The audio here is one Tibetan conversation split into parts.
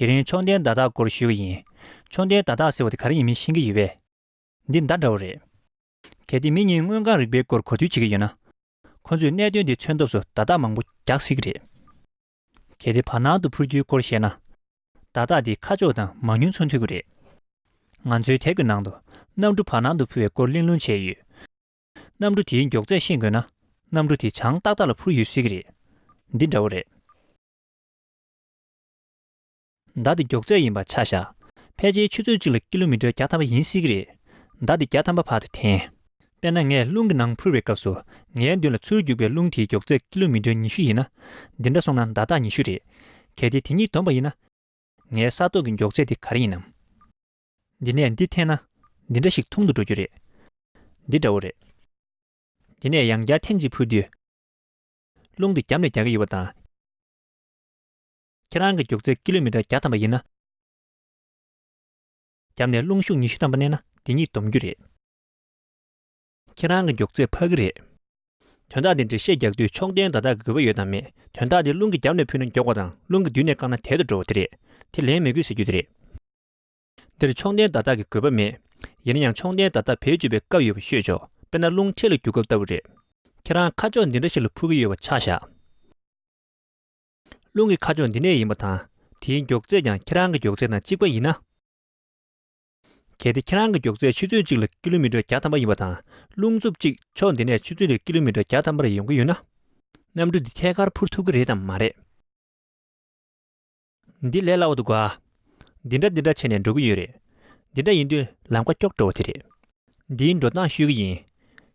དེ་རིང་མཆོང་ལྡན་བརྡ་རྟགས་སྐོར་ཞུས་པ་ཡིན། མཆོང་ལྡན་བརྡ་རྟགས་ཟེར་བ་དེ་ག་རེ་ཡིན་མིན་ཤེས་ཀྱི་ཡོད་པས། འདི་མདའ་འདྲ་བོ་རེད། གལ་ཏེ་མི་གཉིས་དངོས་གང་རིག་པའི་སྐོར་གོ་ཐོས་བྱེད་ཀྱི་ཡོད་ན། ཁོ་ཚོས་གནད་དོན་དེ་མཚོན་ཐབས་སུ་བརྡ་རྟགས་མང་པོ་རྒྱག་སྲིད་ཀྱི་རེད། གལ་ཏེ་བར་སྣང་དུ་འཕུར་རྒྱུའི་སྐོར་བཤད་ན། བརྡ་རྟགས་འདི་ཁ་ཕྱོགས་དང་མང་ཉུང་མཚུངས་མཐུན་པོ་རེད། ང་ཚོའི་དེབ་ཀྱི་ནང་དུ་གནམ་གྲུ་བར་སྣང་དུ་འཕུར་བའི་སྐོར་གླེང་སློང་བྱས་ཡོད། གནམ་གྲུ་དེའི་མགྱོགས་ཚད་ཤེས་དགོས་ན་གནམ་གྲུ་དེ་བྱང་ཏག་ཏག་ལ་འཕུར་ཡོད་སྲིད་ཀྱི་རེད། འདི་འདྲ་བོ་རེད། མདའ་དེ་མགྱོགས་ཚད་ཡིན་པ་ཆ་བཞག་ཕལ་ཆེའི་ཆུ་ཚོད་གཅིག་ལ་ཀི་ལོ་མི་ཀྲེར་བརྒྱ་ཐམ་པ་ཡིན་སྲིད་ཀྱི་རེད། མདའ་དེ་བརྒྱ་ཐམ་པ་བར་དུ་འཐེན། དཔེར་ན་ངས་རླུང་གི་ནང་འཕུར་བའི་སྐབས་སུ་ངའི་མདུན་ལ་ཚུར་རྒྱུག་པའི་རླུང་དེའི་མགྱོགས་ཚད་ཀི་ལོ་མི་ཀྲེར་ཉི་ཤུ་ཡིན་ན། འདི་འདྲ་སོང་ན་མདའ་རྟགས་ཉི་ཤུ་རེད། གལ་ཏེ་དེ་གཉིས་བསྡོམས་པ་ཡིན་ན། ངའི་ས་ཐོག་གི་མགྱོགས་ཚད་དེ་ག་རེ་ཡིན་ནམ། འདི་ནས་འདི་འཐེན་ན། འདི་འདྲ་ཞིག་འཐུང་དུ་འགྲོ་རྒྱུ་རེད། འདི་འདྲ་བོ་རེད། འདི་ནས་ཡང་བརྒྱ་ཐེངས་གཅིག་འཕུར་དུས། རླུང་དེ་རྒྱབ་ནས་རྒྱག་གི་ཡོད་པ་དང། ཁྱེད་རང་གི་རྒྱུགས་ཚད་ཀི་ལོ་མི་ཏྲ་བརྒྱ་ཐམ་པ་ཡིན་ན། བརྒྱབ་ནས་རླུང་ཤུགས་ཉི་ཤུ་ཐམ་པ་བསྣན་ན་འདི་གཉིས་སྡོམ་རྒྱུ་རེད། ཁྱེད་རང་གི་རྒྱུགས་ཚད་འཕག་གི་རེད། དོན་དག་འདི་འགྲེལ་བཤད་རྒྱག་དུས་ཕྱོགས་འགྲན་ཟླ་དག་གི་དགོས་པ་ཡོད་དམ་མེད་དོན་དག་འདི་རླུང་གིས་བརྒྱབ་ནས་ཕུད་ན་མགྱོགས་པ་དང་རླུང་གིས་མདུན་ནས་བཀག་ན་དལ་དུ་འགྲོ་བ་དེ་རེད་དེ་ལན་མི་དགོས་ཟེར་རྒྱུ་དེ་རེད། འདིར་ཕྱོགས་འགྲན་ཟླ་དག་གི་དགོས་པ་མེད། ཡིན་ན་ཡང་ཕྱོགས་འགྲན་ཟླ་དག་བེད་སྤྱོད་པའི་སྐབས་ཡོད་པ་ཤོད་ཆོག་དཔེར་ན་རླུང་འཕྲེད་ལ་རྒྱུག་སྐབས་ལྟ་བུ་རེད། ཁྱེད་རང་ཁ་ཕྱོགས་འདི་འདྲ་ཞིག་ལ་འཕུར་གི་ཡོད་པ་ཆགས་བཞག། རླུང་གི་ཁ་ཕྱོགས་འདི་ནས་ཡིན་པ་དང་དེའི་མགྱོགས་ཚད་ཀྱང་ཁྱེད་རང་གི་མགྱོགས་ཚད་དང་གཅིག་པ་ཡིན་ན། གལ་ཏེ་ཁྱེད་རང་གི་མགྱོགས་ཚད་ཆུ་ཚོད་གཅིག་ལ་ཀི་ལོ་མི་ཀྲོ་བརྒྱ་ཐམ་པ་ཡིན་པ་དང་རླུང་འཚུབ་གཅིག་ཕྱོགས་འདི་ནས་ཆུ་ཚོད་རེར་ཀི་ལོ་མི་ཀྲོ་བརྒྱ་ཐམ་པ་རེ་ཡོང་གི་ཡོད་ན། གནམ་གྲུ་འདི་ཐད་ཀར་འཕུར་ཐུབ་ཀྱི་རེད་དམ་མ་རེད། འདི་ལས་སླ་བོ་འདུག་ག། འདི་འདྲ་འདི་འདྲ་བྱས་ནས་འགྲོ་གི་ཡོད་རེད། འདི་འདྲ་ཡིན་དུས་ལམ་ཁ་སྐྱོག་འགྲོ་བ་དེ་རེད། འདིའི་འགྲོ་སྟངས་ཤོད་ཀྱི་ཡིན།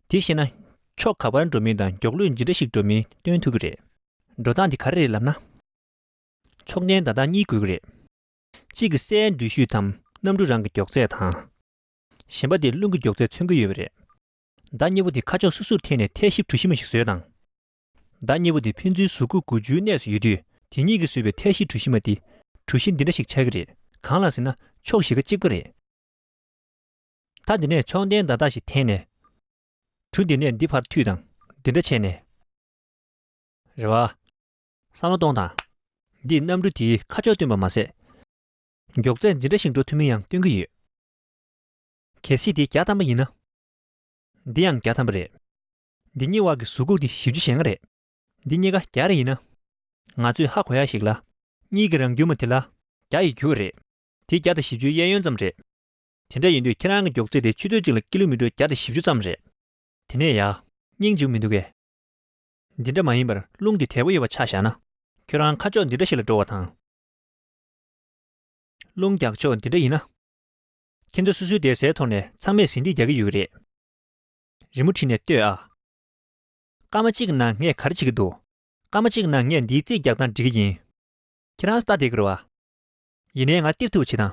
དེ་ཤེས་ན། ཕྱོགས་ག་པར་འགྲོ་མིན་དང་མགྱོགས་ལུས་ཇི་འདྲ་ཞིག་འགྲོ་མིན་སྟོན་ཐུབ་ཀྱི་རེད། འགྲོ་སྟངས་འདི་ག་རེ་རེད་ལབ་ན། མཆོག་ལྡན་ད་ལྟ་གཉིས་དགོས་ཀྱི་རེད། གཅིག་གི་སའི་འགྲུལ་བཞུད་དམ་གནམ་གྲུ་རང་གི་མགྱོགས་ཚད་དང། གཞན་པ་དེ་རླུང་གི་མགྱོགས་ཚད་མཚོན་གྱི་ཡོད་པ་རེད། བདག་གཉིས་པོ་དེ་ཁ་ཕྱོགས་སོ་སོར་འཐེན་ནས་ཐལ་ཞིབ་གྲུ་ཞིབ་མོ་ཞིག་བཟོས་དང། བདག་གཉིས་པོ་དེ་ཕན་ཚུན་གཟུགས་སྐུ་དགུ་བཅུའི་གནས་སུ་ཡོད་དུས་དེ་གཉིས་ཀྱིས་བཟོས་པའི་ཐལ་ཞིབ་གྲུ་ཞིབ་མ་དེ་གྲུ་བཞི་འདི་འདྲ་ཞིག་ཆགས་ཀྱི་རེད་གང་ལགས་ཟེར་ན་ཕྱོགས་བཞི་ཀ་གཅིག་པ་རེད། ད་འདི་ནས་མཆོག་ལྡན་ད་ལྟ་ཞིག་འཐེན་ནས། གྲུ་འདི་ནས་འདི་བར་མཐུད་དང་འདི་འདྲ་བྱས་ནས། རེ་བ། བསམ་བློ་གཏོང་དང། འདིས་གནམ་གྲུ་དེའི་ཁ་ཕྱོགས་སྟོན་པ་མ་ཟད། མགྱོགས་ཚད་ཇི་འདྲ་ཞིག་འགྲོ་ཐུབ་མིན་ཡང་སྟོན་གྱི་ཡོད། གལ་སྲིད་དེ་བརྒྱ་ཐམ་པ་ཡིན་ན། འདི་ཡང་བརྒྱ་ཐམ་པ་རེད། འདི་གཉིས་དབར་གྱི་གཟུགས་ཁུག་དེ་བཞི་བཅུ་ཞེ་ལྔ་རེད། འདི་གཉིས་ཀ་བརྒྱ་རེ་ཡིན་ན། ང་ཚོས་ཧ་གོ་ཡ་ཞིག་ལ། གཉིས་ཀྱི་རང་རྒྱུ་མ་དེ་ལ་བརྒྱ་ཡི་རྒྱུ་བ་རེད། དེ་བརྒྱ་དང་བཞི་བཅུའི་གཡས་གཡོན་ཙམ་རེད། དེ་འདྲ་ཡིན་དུས་ཁྱེད་རང་གི་མགྱོགས་ཚད་དེ་ཆུ་ཚོད་གཅིག་ལ་ཀི་ལོ་མི་ཀྲོ་བརྒྱ་དང་བཞི་བཅུ་ཙམ་རེད། དེ་ནས་ཡག་སྙིང་འཇུག་མི་འདུག་གས། འདི་འདྲ་མ་ཡིན་པར་རླུང་གི་དལ་བུ་གཡོ་བ་ཆ་བཞག་ན། ཁྱོད་རང་ཁ་ཕྱོགས་འདི་འདྲ་ཞིག་ལ་འགྲོ་བ་དང། རླུང་རྒྱག་ཕྱོགས་འདི་འདྲ་ཡིན་ན། ཁྱེད་ཚོ་སུ་སུའི་བསྡད་སའི་ཐོག་ནས་ཚང་མས་ཟིན་བྲིས་རྒྱག་གི་ཡོད་རེད། རི་མོ་བྲིས་ནས་ལྟོས་ཨ། སྐར་མ་གཅིག་ནང་ངས་ག་རེ་བྱེད་ཀྱི་འདུག་སྐར་མ་གཅིག་ནང་ངས་འདིའི་རྩིས་རྒྱག་སྟངས་འབྲི་གི་ཡིན། ཁྱེད་རང་སྟབས་བདེ་ཀི་རོ་ཨ། ཡིན་ནའི་ང་བསྟིབ་ཐུབ་བྱེད་དང།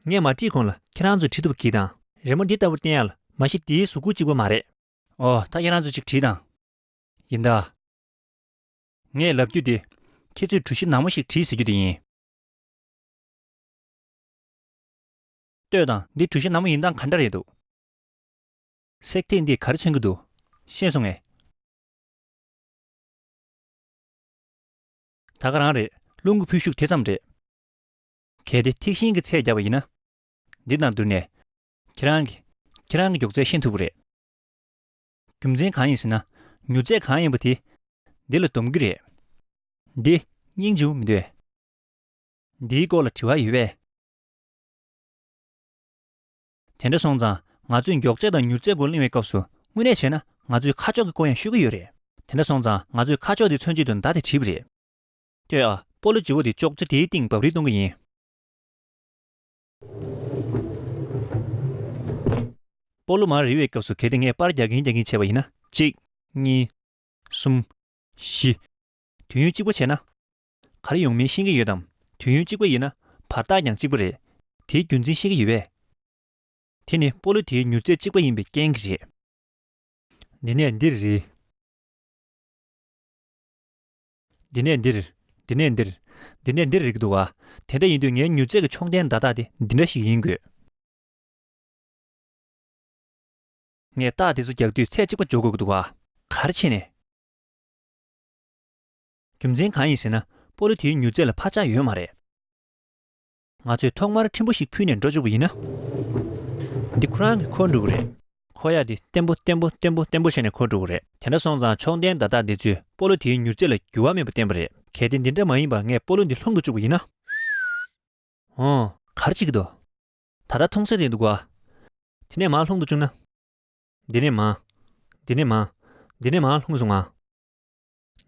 ངས་མ་བྲིས་གོང་ལ་ཁྱེད་རང་ཚོས་བྲིས་ཐུབ་གི་དང། རི་མོ་འདི་ལྟ་བུ་བསྟན་ཡག་ལ་མ་གཞི་འདིའི་གཟུགས་སྐུ་གཅིག་པོ་མ་རེད། ཨོ། ད་ཁྱེད་རང་ཚོས་ཅིག་བྲིས་དང། ཡིན་ད། ངས་ལབ་རྒྱུ་དེ། ཁྱེད་ཚོས་གྲུ་བཞི་ནག་མོ་ཞིག་བྲིས་ཟེར་རྒྱུ་དེ་ཡིན། ལྟོས་དང། འདི་གྲུ་བཞི་ནག་མོ་ཡིན་སྟངས་ག་འདྲ་རེད་འདུག། སྲེག་ཐིག་འདི་ག་རེ་མཚོན་གྱི་འདུག། ཤེས་སོང་ངས། ད་ག་རང་རེད། རླུང་གི་འཕུལ་ཤུགས་དེ་ཙམ་རེད། གལ་ཏེ་ཐིག་ཤིང་གི་ཚད་རྒྱབ་པ་ཡིན་ན། འདི་དང་བསྡུར་ནས། ཁྱེད་རང་གིས་ཁྱེད་རང་གི་མགྱོགས་ཚད་ཤེས་ཐུབ་ཀྱི་རེད། རྒྱུ་མཚན་གང་ཡིན་ཟེར་ན་མྱུར་ཚད་གང་ཡིན་པ་དེ་འདི་ལ་འདོམས་ཀྱི་རེད། འདི་སྙིང་རྗེ་བོ་མི་འདོད། འདིའི་སྐོར་ལ་དྲི་བ་ཡོད་པས། དེ་འདྲ་སོང་ཙང་ང་ཚོས་མགྱོགས་ཚད་དང་མྱུར་ཚད་སྐོར་གླེང་བའི་སྐབས་སུ་དངོས་གནས་བྱས་ན་ང་ཚོས་ཁ་ཕྱོགས་ཀྱི་སྐོར་ཡང་ཤོད་ཀྱི་ཡོད་རེད། དེ་འདྲ་སོང་ཙང་ང་ཚོས་ཁ་ཕྱོགས་དེ་མཚོན་བྱེད་དུ་མདའ་དེ་བྲིས་པ་རེད། སྟོད་ཨ་པོ་ལོ་རྗི་བོ་དེ་ཅོག་ཙེ་དེའི་སྟེང་འབབ་རིས་གཏོང་གི་ཡིན། སྤོ་ལོ་མར་རིལ་བའི་སྐབས་སུ་གལ་ཏེ་ངས་པར་རྒྱག་གིན་རྒྱག་གིན་བྱས་པ་ཡིན་ན་གཅིག། གཉིས། གསུམ། བཞི། དུས་ཡུན་གཅིག་པོ་བྱས་ན། ག་རེ་ཡོང་མིན་ཤེས་ཀྱིན་ཡོད་དམ་དུས་ཡུན་གཅིག་པོ་ཡིན་ན་བར་ཐག་ཀྱང་གཅིག་པོ་རེད། དེའི་རྒྱུ་མཚན་ཤེས་ཀྱི་ཡོད་པས། དེ་ནི་སྤོ་ལོ་དེའི་མྱུར་ཚད་གཅིག་པ་ཡིན་པའི་རྐྱེན་གྱིས་རེད། འདི་ནས་འདིར་རིལ། འདི་ནས་འདིར། འདི་ནས་འདིར། འདི་ནས་འདིར་རིགས་འདུག་ག། དེ་འདྲ་ཡིན་དུས་ངའི་མྱུར་མཛད་ཀྱི་མཆོང་རྟེན་བརྡ་རྟགས་དེ་འདི་འདྲ་ཞིག་ཡིན་དགོས། ངས་རྟགས་དེ་ཚོ་རྒྱག་དུས་ཚད་གཅིག་པ་འཇོག་དགོས་ཀྱི་འདུག་ག། གར་ཕྱིན་ནས། རྒྱུ་མཚན་གང་ཡིན་ཟེར་ན། སྤོ་ལོ་དེའི་མྱུར་མཛད་ལ་འཕར་ཆག་ཡོད་མ་རེད། ང་ཚོས་ཐོག་མར་ཕྲན་བུ་ཞིག་ཕུལ་ནས་འགྲོ་བཅུག་པ་ཡིན་ན། འདི་ཁོ་རང་གི་ཁོར་འགྲོ་གི་རེད། ཁོ་ཡག་འདི་བརྟན་པོ་བརྟན་པོ་བརྟན་པོ་བརྟན་པོ་བྱས་ནས་ཁོར་འགྲོ་གི་རེད། དེ་འདྲ་སོང་ཙང་མཆོག་ལྡན་བརྡ་རྟགས་འདི་ཚོས་སྤོ་ལོ་དེའི་མྱུར་ཚད་ལ་འགྱུར་བ་མེད་པ་བསྟན་པ་རེད། གལ་ཏེ་འདི་འདྲ་མ་ཡིན་པར་ངས་སྤོ་ལོ་འདི་ལྷུང་དུ་བཅུག་པ་ཡིན་ན། ཧོན། གར་བྱེད་ཀྱི་འདུག། ད་ལྟ་མཐོང་སའི་རེད་འདུག་གོ། དེ་ནས་མར་ལྷུང་དུ་བཅུག་ན། འདི་ནས་མར། འདི་ནས་མར། འདི་ནས་མར་ལྷུང་སོང་ང།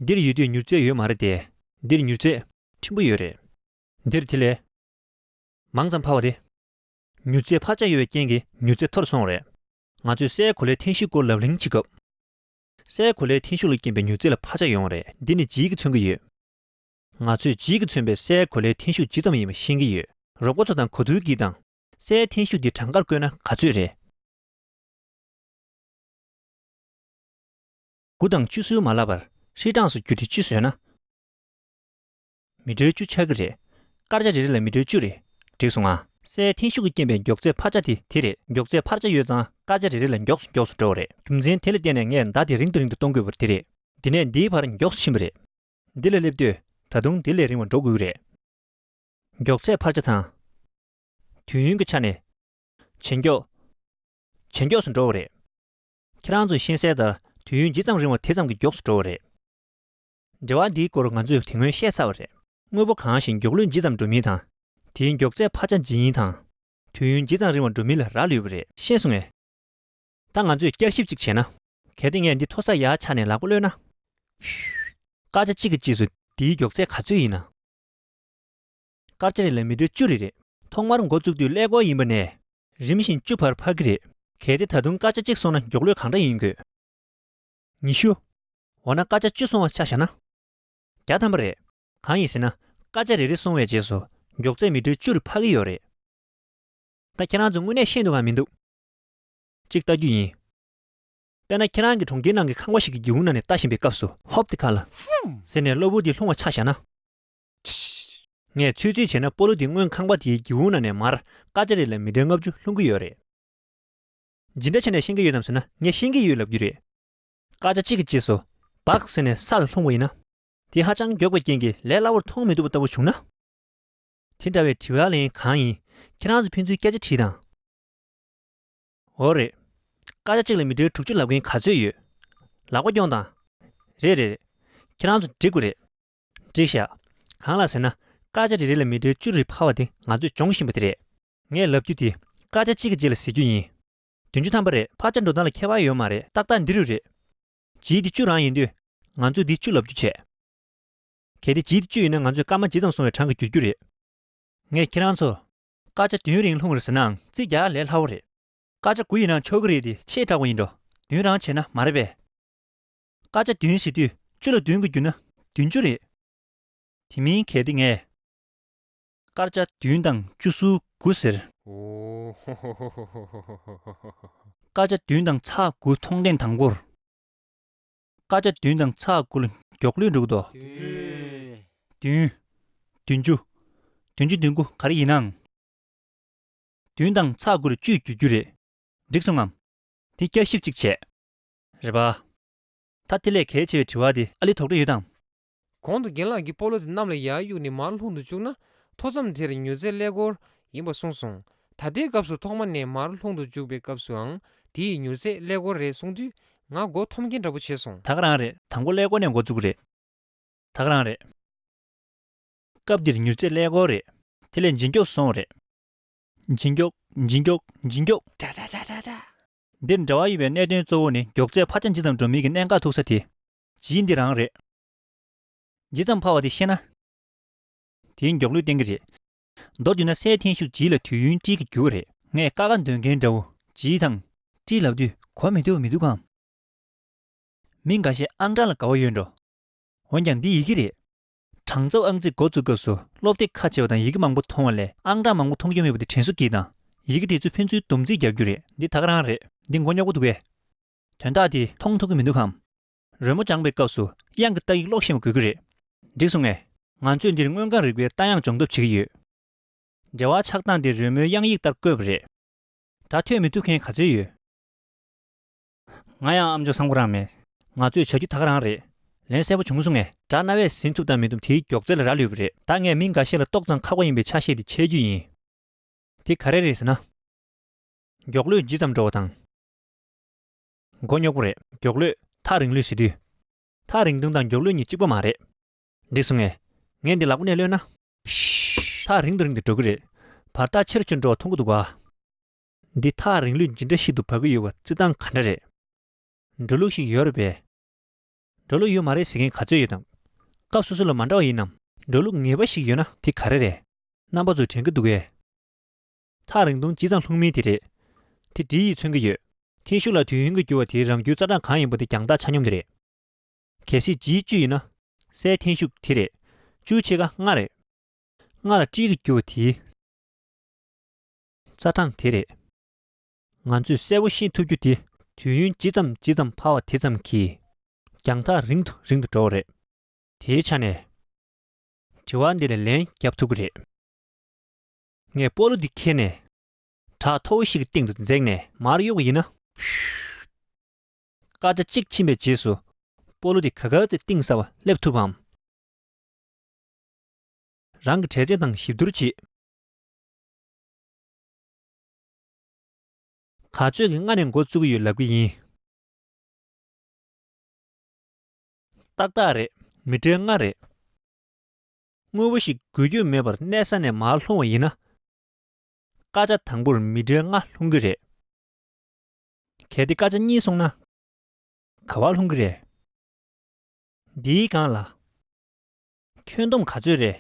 འདིར་ཡོད་དུས་མྱུར་ཚད་ཡོད་མ་རེད་དེ། འདིར་མྱུར་ཚད་ཕྲན་བུ་ཡོད་རེད། འདིར་དེ་ལས་མང་ཙམ་འཕར་བ་རེད། མྱུར་ཚད་འཕར་ཆག་ཡོད་པའི་རྐྱེན་གྱིས་མྱུར་ཚད་མཐོ་རུ་སོང་བ་རེད། ང་ཚོས་སའི་གོ་ལའི་འཐེན་ཤུགས་སྐོར་ལབ་གླེང་བྱེད་སྐབས། སའི་གོ་ལའི་འཐེན་ཤུགས་ལ་རྐྱེན་པའི་མྱུར་ཚད་ལ་འཕར་ཆག་ཡོང་བ་རེད། འདི་ནི་ལྗིད་ཀྱིས་མཚོན་གྱི་ཡོད། ང་ཚོས་ལྗིད་ཀྱིས་མཚོན་པའི་སའི་གོ་ལའི་འཐེན་ཤུགས་ཇི་ཙམ་ཡིན་པ་ཤེས་ཀྱི་ཡོད། རོ་ཀོ་ཚོ་དང་གོ་ཐུར་གྱིས་དང། སའི་འཐེན་ཤུགས་འདི་གྲངས་ཀར་བཀོད་ན་ག་ཚོད་རེད། དགུ་དང་བཅུ་བསུ་མ་ལབ་པར་ཧྲིལ་གྲངས་སུ་བསྒྱུར་ཏེ་བཅུ་བཟོས་ན། མི་གྲོལ་བཅུ་ཆགས་ཀྱི་རེད། སྐར་ཆ་རེ་རེ་ལ་མི་གྲོལ་བཅུ་རེད་འགྲིག་སོང་ང། སའི་འཐེན་ཤུགས་ཀྱི་རྐྱེན་པས་མགྱོགས་ཚད་འཕར་ཆ་དེ་དེ་རེད་མགྱོགས་ཚད་འཕར་ཆ་ཡོད་ཙང་སྐར་ཆ་རེ་རེ་ལ་མགྱོགས་སུ་མགྱོགས་སུ་འགྲོ་བ་རེད་རྒྱུ་མཚན་དེ་ལ་བརྟེན་ནས་ངས་མདའ་དེ་རིང་དུ་རིང་དུ་གཏོང་དགོས་པ་དེ་རེད། འདི་ནས་འདིའི་བར་མགྱོགས་སུ་ཕྱིན་པ་རེད། འདི་ལ་སླེབས་དུས་ད་དུང་དེ་ལས་རིང་བ་འགྲོ་དགོས་ཀྱི་རེད། མགྱོགས་ཚད་འཕར་ཆ་དང། དུས་ཡུན་གྱི་ཆ་ནས། ཇེ་མགྱོགས། ཇེ་མགྱོགས་སུ་འགྲོ་བ་རེད། ཁྱེད་རང་ཚོས་ཤེས་གསལ་ལྟར་དུས་ཡུན་ཇི་ཙམ་རིང་བ་དེ་ཙམ་གྱིས་མགྱོགས་སུ་འགྲོ་བ་རེད། འབྲེལ་བ་འདིའི་སྐོར་ང་ཚོས་དེ་སྔོན་བཤད་ཚར་བ་རེད། དངོས་པོ་གང་ཞིག་མགྱོགས་ལུས་ཇི་ཙམ་འགྲོ་མིན་དང། དེའི་མགྱོགས་ཚད་འཕར་ཆ་ཇི་ཡིན་དང། དུས་ཡུན་ཇི་ཙམ་རིང་བ་འགྲོ་མིན་ལ་རག་ལུས་པ་རེད། ཤེས་སོང་ངས། ད་ང་ཚོས་བསྐྱར་ཞིབ་ཅིག་བྱས་ན། གལ་ཏེ་ངས་འདི་མཐོ་ས་ཡག་ཆ་ནས་ལག་པ་གློད་ན། བྷིའུ། སྐར་ཆ་གཅིག་གི་རྗེས་སུ་དེའི་མགྱོགས་ཚད་ག་ཚོད་ཡིན་ན། སྐར་ཆ་རེ་ལ་མི་ཏྲོ་བཅུ་རེ་རེད། ཐོག་མར་འགོ་བཙུགས་དུས་ཀླད་ཀོར་ཡིན་པ་ནས། རིམ་བཞིན་བཅུ་བར་འཕར་གྱི་རེད། གལ་ཏེ་ད་དུང་སྐར་ཆ་གཅིག་སོང་ན་མགྱོགས་ལུས་གང་འདྲ་ཡིན་དགོས། ཉི་ཤུ། འོ་ན་སྐར་ཆ་བཅུ་སོང་བ་ཆ་བཞག་ན། བརྒྱ་ཐམ་པ་རེད། གང་ཡིན་ཟེར་ན་སྐར་ཆ་རེ་རེ་སོང་བའི་རྗེས་སུ་མགྱོགས་ཚད་མི་ཁྲི་བཅུར་འཕར་གྱི་ཡོད་རེད། ད་ཁྱེད་རང་ཚོ་དངོས་གནས་ཤེས་འདུག་གམ་མི་འདུག་ཅིག་བལྟ་རྒྱུ་ཡིན། དཔེར་ན་ཁྱེད་རང་གིས་གྲོང་ཁྱེར་ནང་གི་ཁང་བ་ཞིག་གི་སྒེའུ་ནང་ནས་བལྟ་བཞིན་པའི་སྐབས་སུ། ཧོབ་ཏི་ཁ་ལ། ཟེར་ནས་གློ་བུར་དུ་ལྷུང་བ་ཆ་བཞག་ན། ངས་ཚོད་རྩིས་བྱས་ན་སྤོ་ལོ་དེ་སྔོན་ཁང་པ་དེའི་སྒེའུ་ནང་ནས་མར་སྐར་ཆ་རེ་ལས་མི་གྲངས་ལྔ་བཅུ་ལྷུང་གི་ཡོད་རེད། ཇི་འདྲ་བྱས་ནས་ཤེས་ཀྱི་ཡོད་དམ་ཟེར་ན་ངས་ཤེས་ཀྱི་ཡོད་ལབ་རྒྱུ་རེད། སྐར་ཆ་གཅིག་གི་རྗེས་སུ་བག་ཟེར་ནས་ས་ལ་ལྷུང་བ་ཡིན་ན། དེ་ཧ་ཅང་མགྱོགས་པའི་རྐྱེན་གྱིས་ལས་སླ་བོར་མཐོང་མི་ཐུབ་པ་ལྟ་བུ་བྱུང་ན། དེ་འདྲ་བའི་དྲི་བ་ལན་གང་ཡིན་ཁྱེད་རང་ཚོས་ཕན་ཚུན་སྐད་ཆ་དྲིས་དང། འོ་རེད། སྐར་ཆ་གཅིག་ལ་མི་གྲོལ་དྲུག་ཅུ་ལབ་མཁན་ག་ཚོད་ཡོད། ལག་པ་རྐྱོང་དང། རེད་རེད་རེད། ཁྱེད་རང་ཚོ་འགྲིག་གོ་རེད། བཀྲིས་ཤག། གང་ལགས་ཟེར་ན་སྐར་ཆ་རེ་རེ་ལ་མི་དོའི་བཅུ་རེ་འཕར་བ་དེ་ང་ཚོས་སྦྱོང་བཞིན་པ་དེ་རེད། ངས་ལབ་རྒྱུ་དེ་སྐར་ཆ་གཅིག་གི་རྗེས་ལ་གཟིགས་རྒྱུ་ཡིན། བདུན་ཅུ་ཐམ་པ་རེད་འཕར་ཆ་འགྲོ་སྟངས་ལ་ཁྱད་པར་ཡོད་མ་རེད་ཏག་ཏག་འདི་རུ་རེད། བྱིས་དེ་བཅུ་རང་ཡིན་དུས་ང་ཚོས་འདི་བཅུ་ལབ་རྒྱུ་བྱས། གལ་ཏེ་བྱིས་དེ་བཅུ་ཡིན་ན་ང་ཚོས་སྐར་མ་ཇི་ཙམ་སོང་བའི་གྲངས་ཀྱི་འགྱུར་རྒྱུ་རེད། ངས་ཁྱེད་རང་ཚོར་སྐར་ཆ་བདུན་རིང་ལྷུང་རེ་ཟེར་ནའང་རྩིས་རྒྱག་ལས་སླ་བོ་རེད། སྐར་ཆ་དགུ་ཡིན་ནའང་ཆོག་གི་རེད་དེ་ཆེས་དྲག་པོ་ཡིན་འགྲོ་བདུན་རང་བྱས་ན་མ་རེད་པས། དཀར་ཆ་བདུན་ཟེར་དུས་བཅུ་ལ་བདུན་དགུ་བརྒྱུད་ན་བདུན་ཅུ་རེད། དེ་མིན་གལ་ཏེ་ངས། དཀར་ཆ་བདུན་དང་བཅུ་སུ་དགུ་ཟེར། དཀར་ཆ་བདུན་དང་ཚ་དགུ་མཐོང་ཐེངས་དང་པོར། དཀར་ཆ་བདུན་དང་ཚ་དགུ་ལ་མགྱོགས་ལུས་འགྲོ་གི་འདུག། བདུན། བདུན་ཅུ། བདུན་ཅུ་བདུན་དགུ་ག་རེ་ཡིན་ནའང། བདུན་དང་ཚ་དགུ་ལ་བཅུས་བརྒྱུད་རྒྱུ་རེད། འགྲིག་སོང་ངམ། དེ་བསྐྱར་ཞིབ་ཅིག་བྱས། རེད་པ། ད་དེ་ལས་གལ་ཆེ་བའི་དྲི་བ་དེ་ཨ་ལི་དོགས་འདྲི་ཡོད་དམ། གོང་དུ་རྒན་ལགས་ཀྱིས་སྤོ་ལོ་དེ་གནམ་ལ་ཡར་གཡུགས་ནས་མར་ལྷུང་དུ་བཅུག་ན་མཐོ་མཚམས་དེར་མྱུར་ཚད་ཀླད་ཀོར་ཡིན་པ་གསུངས་སོང། ད་ལྟའི་སྐབས་སུ་ཐོག་མ་ནས་མར་ལྷུང་དུ་འཇུག་པའི་སྐབས་སུའང་དེ་ཡི་མྱུར་ཚད་ཀླད་ཀོར་རེད་གསུངས་དུས་ང་མགོ་འཐོམ་མཁན་འདྲ་པོ་བྱས་སོང། ད་ག་རང་རེད་ད་མགོ་ཀླད་ཀོར་ནས་མགོ་བཙུགས་རེད། ད་ག་རང་རེད། སྐབས་འདིར་མྱུར་ཚད་ཀླད་ཀོར་རེད། དེ་ལས་འབྱིན་སྐྱོགས་སོང་བ་རེད། འབྱིན་སྐྱོགས་འབྱིན་སྐྱོགས་འབྱིན་སྐྱོགས། ཏྲ་ཏྲ་ཏྲ་ཏྲ་ཏྲ། འདིར་འབྲེལ་བ་ཡོད་པའི་གནད་དོན་གཙོ་བོ་ནི་མགྱོགས་ཚད་འཕར་ཆ་ཇི་ཙམ་འགྲོ་མིན་གྱི་གནད་འགག་ཐུག་ས་དེ། བྱིས་འདི་རང་རེད། ཇི་ཙམ་འཕར་བ་དེ་ཤེས་ན། དེའི་མགྱོགས་ལུས་བསྟན་གྱི་རེད། མདོར་བསྡུས་ན་སའི་འཐེན་ཤུགས་བྱིས་ལ་དུས་ཡུན་གཅིག་གིས་འགྱུར་བ་རེད། ངས་དཀའ་ཁག་འདོན་མཁན་འདྲ་བོ་བྱིས་དང། བཀྲིས་ལབ་དུས་གོ་མི་ཐུབ་མི་འདུག་གམ། མི་འགའ་ཤས་ཨང་གྲངས་ལ་དགའ་བོ་ཡོད་འགྲོ། འོན་ཀྱང་འདི་ཡི་གེ་རེད། གྲངས་ཚབ་ཨང་རྩིས་འགོ་བཙུགས་སྐབས་སུ་སློབ་དེབ་ཁ་ཕྱེ་བ་དང་ཡི་གེ་མང་པོ་མཐོང་བ་ལས་ཨང་གྲངས་མང་པོ་མཐོང་རྒྱུ་མེད་པ་དེ་དྲན་གསོ་གྱིས་དང། ཡི་གེ་དེ་ཚོས་ཕན་ཚུན་སྡོམ་རྩིས་རྒྱག་རྒྱུ་རེད། འདི་ཐག་རང་རེད། འདི་མགོ་རྙོག་པོ་འདུག་གས། དོན་དག་འདི་མཐོང་ཐུབ་ཀྱི་མི་འདུག་གམ། རོལ་མོ་སྦྱངས་པའི་སྐབས་སུ་དབྱངས་ཀྱི་རྟ་ཡིག་ཀློག་ཤེས་པ་དགོས་ཀྱི་རེད། འགྲིག་སོང་ངས། ང་ཚོས་འདིར་སྔོན་གངས་རི་པའི་རྟ་དབྱངས་སྦྱོང་ཐབས་བྱེད་ཀྱི་ཡོད། འགྲེལ་བ་ཆགས་སྟངས་དེ་རོལ་མོའི་དབྱངས་ཡིག་ལྟར་བཀོད་པ་རེད། སྒྲ་ཐོས་མི་ཐུབ་མཁན་ག་ཚོད་ཡོད། ང་ཡང་ཨ་མཆོག་སང་གོ་རང་མེད། ང་ཚོས་བྱ་རྒྱུ་ད་ག་རང་རེད། ལན་གསལ་པོ་བྱུང་སོང་ངས། དགྲ་རྣ་བས་ཟིན་ཐུབ་དང་མི་ཐུབ་དེའི་མགྱོགས་ཚད་ལ་རག་ལུས་པ་རེད། ད་ངས་མི་འགའ་ཤས་ལ་ཏོག་ཙམ་ཁག་པོ་ཡིན་པའི་ཆ་ཤས་དེ་འཆད་རྒྱུ་ཡིན། དེ་ག་རེ་རེད་ཟེར་ན། མགྱོགས་ལུས་ཇི་ཙམ་འགྲོ་བ་དང། མགོ་རྙོག་པོ་རེད། མགྱོགས་ལུས། ཐག་རིང་ལུས་ཟེར་དུས། ཐག་རིང་དུང་དང་མགྱོགས་ལུས་གཉིས་གཅིག་པོ་མ་རེད། འགྲིག་སོང་ངས། ངས་འདི་ལག་པོ་ནས་གློད་ན། ཐག་རིང་དུ་རིང་དུ་འགྲོ་གི་རེད། བར་ཐག་ཆེ་རུ་ཆེ་རུ་འགྲོ་བ་མཐོང་གི་འདུག་ག། འདི་དག་རིང་ལུགས་ཇི་འདྲ་ཞིག་ཏུ་བབས་ཀྱི་ཡོད་པ་རྩི་སྟངས་ག་འདྲ་རེད། འགྲོ་ལུགས་ཤིག་ཡོད་རེད་པས། འགྲོ་ལུགས་ཡོད་མ་རེད་ཟེར་མཁན་ག་ཚོད་ཡོད་དམ། སྐབས་སོ་སོ་ལ་མ་འདྲ་བ་ཡིན་ནམ། འགྲོ་ལུགས་ངེས་པ་ཞིག་ཡོད་ན་དེ་ག་རེ་རེད། རྣམ་པ་ཚོ་དྲན་གྱི་འདུག་གས། ཐག་རིང་ཐུང་ཇི་ཙམ་ལྷུང་མིན་དེ་རེད། དེ་འདྲི་ཡིས་མཚོན་གྱི་ཡོད། ཐེངས་ཤིག་ལ་དུས་ཡུན་གྱི་འགྱུར་བ་དེའི་རང་རྒྱུའི་རྩ་གྲངས་གང་ཡིན་པ་དེ་རྒྱང་ཐག་ཆ་སྙོམས་དེ་རེད། གལ་སྲིད་ཇིའི་བཅུ་ཡིན་ན། སའི་འཐེན་ཤུགས་དེ་རེད། བཅུའི་ཕྱེད་ཀ་ལྔ་རེད། ལྔ་ལ་སྤྲིས་ཀྱི་འགྱུར་བ་དེའི། རྩ་གྲངས་དེ་རེད། ང་ཚོས་གསལ་བོ་ཤེས་ཐུབ་རྒྱུ་དེ་དུས་ཡུན་ཇི་ཙམ་ཇི་ཙམ་འཕར་བ་དེ་ཙམ་གྱིས་རྒྱང་ཐག་རིང་དུ་རིང་དུ་འགྲོ་བ་རེད། དེའི་ཆ་ནས། དྲི་བ་འདི་ལ་ལན་བརྒྱབ་ཐུབ་ཀྱི་རེད། ངས་སྤོ་ལོ་འདི་འཁྱེར་ནས། བྲག་མཐོ་བོ་ཞིག་གི་སྟེང་དུ་འཛེགས་ནས་མར་གཡུག་པ་ཡིན་ན། བྷིའུ། སྐར་ཆ་གཅིག་ཕྱིན་པའི་རྗེས་སུ་སྤོ་ལོ་འདི་ག་ག་ཚེ་གཏིང་ཟབ་པར་སླེབས་ཐུབ་བམ། རང་གི་དྲས་ཆེན་དང་གཤིབ་བསྡུར་བྱེད། ག་ཚོད་ཀྱི་སྔ་ནས་འགོ་བཙུགས་ཀྱི་ཡོད་ལབ་ཀྱི་ཡིན། ཏག་ཏག་རེད་མི་གྲལ་ལྔ་རེད། དངོས་པོ་ཞིག་དགོས་རྒྱུ་མེད་པར་གནས་ས་ནས་མར་ལྷུང་བ་ཡིན་ན། སྐར་ཆ་དང་པོར་མི་གྲལ་ལྔ་ལྷུང་གི་རེད། གལ་ཏེ་སྐར་ཆ་གཉིས་སོང་ན། ག་བ་ལྷུང་གི་རེད། འདིའི་སྒང་ལ། ཁྱོད་འདོམ་ག་ཚོད་རེད།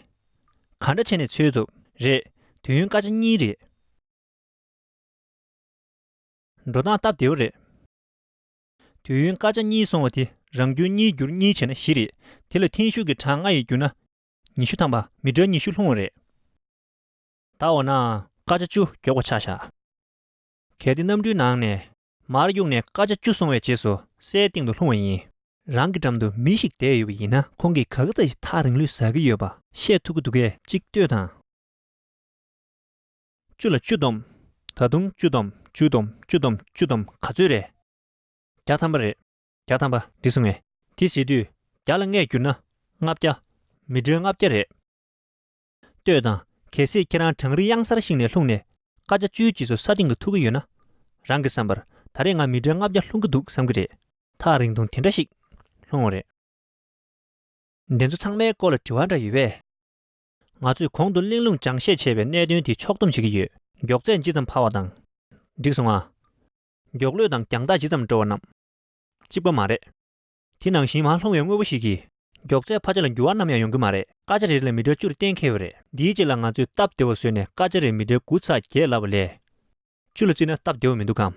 ག་འདྲ་བྱས་ནས་འཚོལ་ཐུབ། རེད། དུས་ཡུན་སྐར་ཆ་གཉིས་རེད། འགྲོ་སྟངས་སྟབས་བདེ་བོ་རེད། དུས་ཡུན་སྐར་ཆ་གཉིས་སོང་བ་དེ་རང་རྒྱུན་གཉིས་བསྒྱུར་གཉིས་བྱས་ན་བཞི་རེད། དེ་ལ་ཐེངས་ཤུགས་ཀྱི་གྲངས་ལྔ་ཡིས་བསྒྱུར་ན། ཉི་ཤུ་ཐམ་པ་མི་འདྲ་ཉི་ཤུ་ལྷུང་བ་རེད། ད་འོ་ན་སྐར་ཆ་བཅུ་མགྱོགས་པ་ཆགས་བཞག། གལ་ཏེ་གནམ་གྲུའི་ནང་ནས། མར་གཡུགས་ནས་ཀ་ཆ་བཅུ་སོང་བའི་རྗེས་སུ་སའི་སྟེང་དུ་ལྷུང་བ་ཡིན། རང་གི་འགྲམ་དུ་མི་ཞིག་བསྡད་ཡོད་པ་ཡིན་ན་ཁོང་གིས་ག་གི་ད་ཡིས་ཐག་རིང་ལུས་ཟ་གི་ཡོད་པ། བཤད་ཐུབ་ཀྱི་འདུག་སྐད་ཅིག་ལྟོས་དང། བཅུ་ལ་བཅུ་བསྡོམས། ད་དུང་བཅུ་བསྡོམས་བཅུ་བསྡོམས་བཅུ་བསྡོམས་བཅུ་བསྡོམས་ག་ཚོད་རེད། བརྒྱ་ཐམ་པ་རེད། བརྒྱ་ཐམ་པ་འདི་སོང་ངས། དེ་བྱེད་དུས་བརྒྱ་ལ་ལྔས་བསྒྱུར་ན་ལྔ་བརྒྱ། མི་སྒྲོལ་ལྔ་བརྒྱ་རེད། ལྟོས་དང། གལ་སྲིད་ཁྱེད་རང་གྲང་རི་གཡང་སར་ཞིག་ནས་ལྷུང་ནས། ཀ་བཅའ་བཅུའི་རྗེས་སུ་ས་སྟེང་དུ་ཐུག་གི་ཡོད་ན། རང་གིས་བསམ་པར་ད་རེས་ང་མི་གྲལ་ལྔ་བརྒྱ་ལྷུང་གི་འདུག་བསམ་གྱི་རེད། ཐག་རིང་ཐུང་དེ་འདྲ་ཞིག་ལྷུང་བ་རེད། འདི་ཚོ་ཚང་མའི་སྐོར་ལ་དྲི་བ་འདྲ་ཡོད་པས། ང་ཚོས་གོང་དུ་གླེང་ལུང་སྦྱང་བཤད་བྱས་པའི་གནད་དོན་དེ་ཕྱོགས་སྡོམ་བྱེད་ཀྱི་ཡོད། མགྱོགས་ཚད་ཇི་ཙམ་འཕར་བ་དང། འགྲིག་སོང་ང། མགྱོགས་ལོད་དང་རྒྱང་ཐག་ཇི་ཙམ་འགྲོ་བ་རྣམས་གཅིག་པ་མ་རེད། དེ་ནང་བཞིན་མ་ལྷུང་བའི་དངོས་པོ་ཞིག་གིས། མགྱོགས་ཚད་ཕ་ཆ་ལ་འགྱུར་བ་ནམ་ཡང་ཡོང་གི་མ་རེད། སྐར་ཆ་རེ་རེ་ལ་མི་སྒྲོལ་བཅུར་གཏན་འཁེལ་བ་རེད། འདིའི་རྗེས་ལ་ང་ཚོས་སྟབས་བདེ་བ་བཟོས་ནས་སྐར་ཆ་རེར་མི་སྒྲོལ་དགུ་ཚ་བརྒྱད་ལབ་པ་ལས། བཅུ་ལ་བརྩིས་ན་སྟབས་བདེ་བ་མི་འདུག་གམ།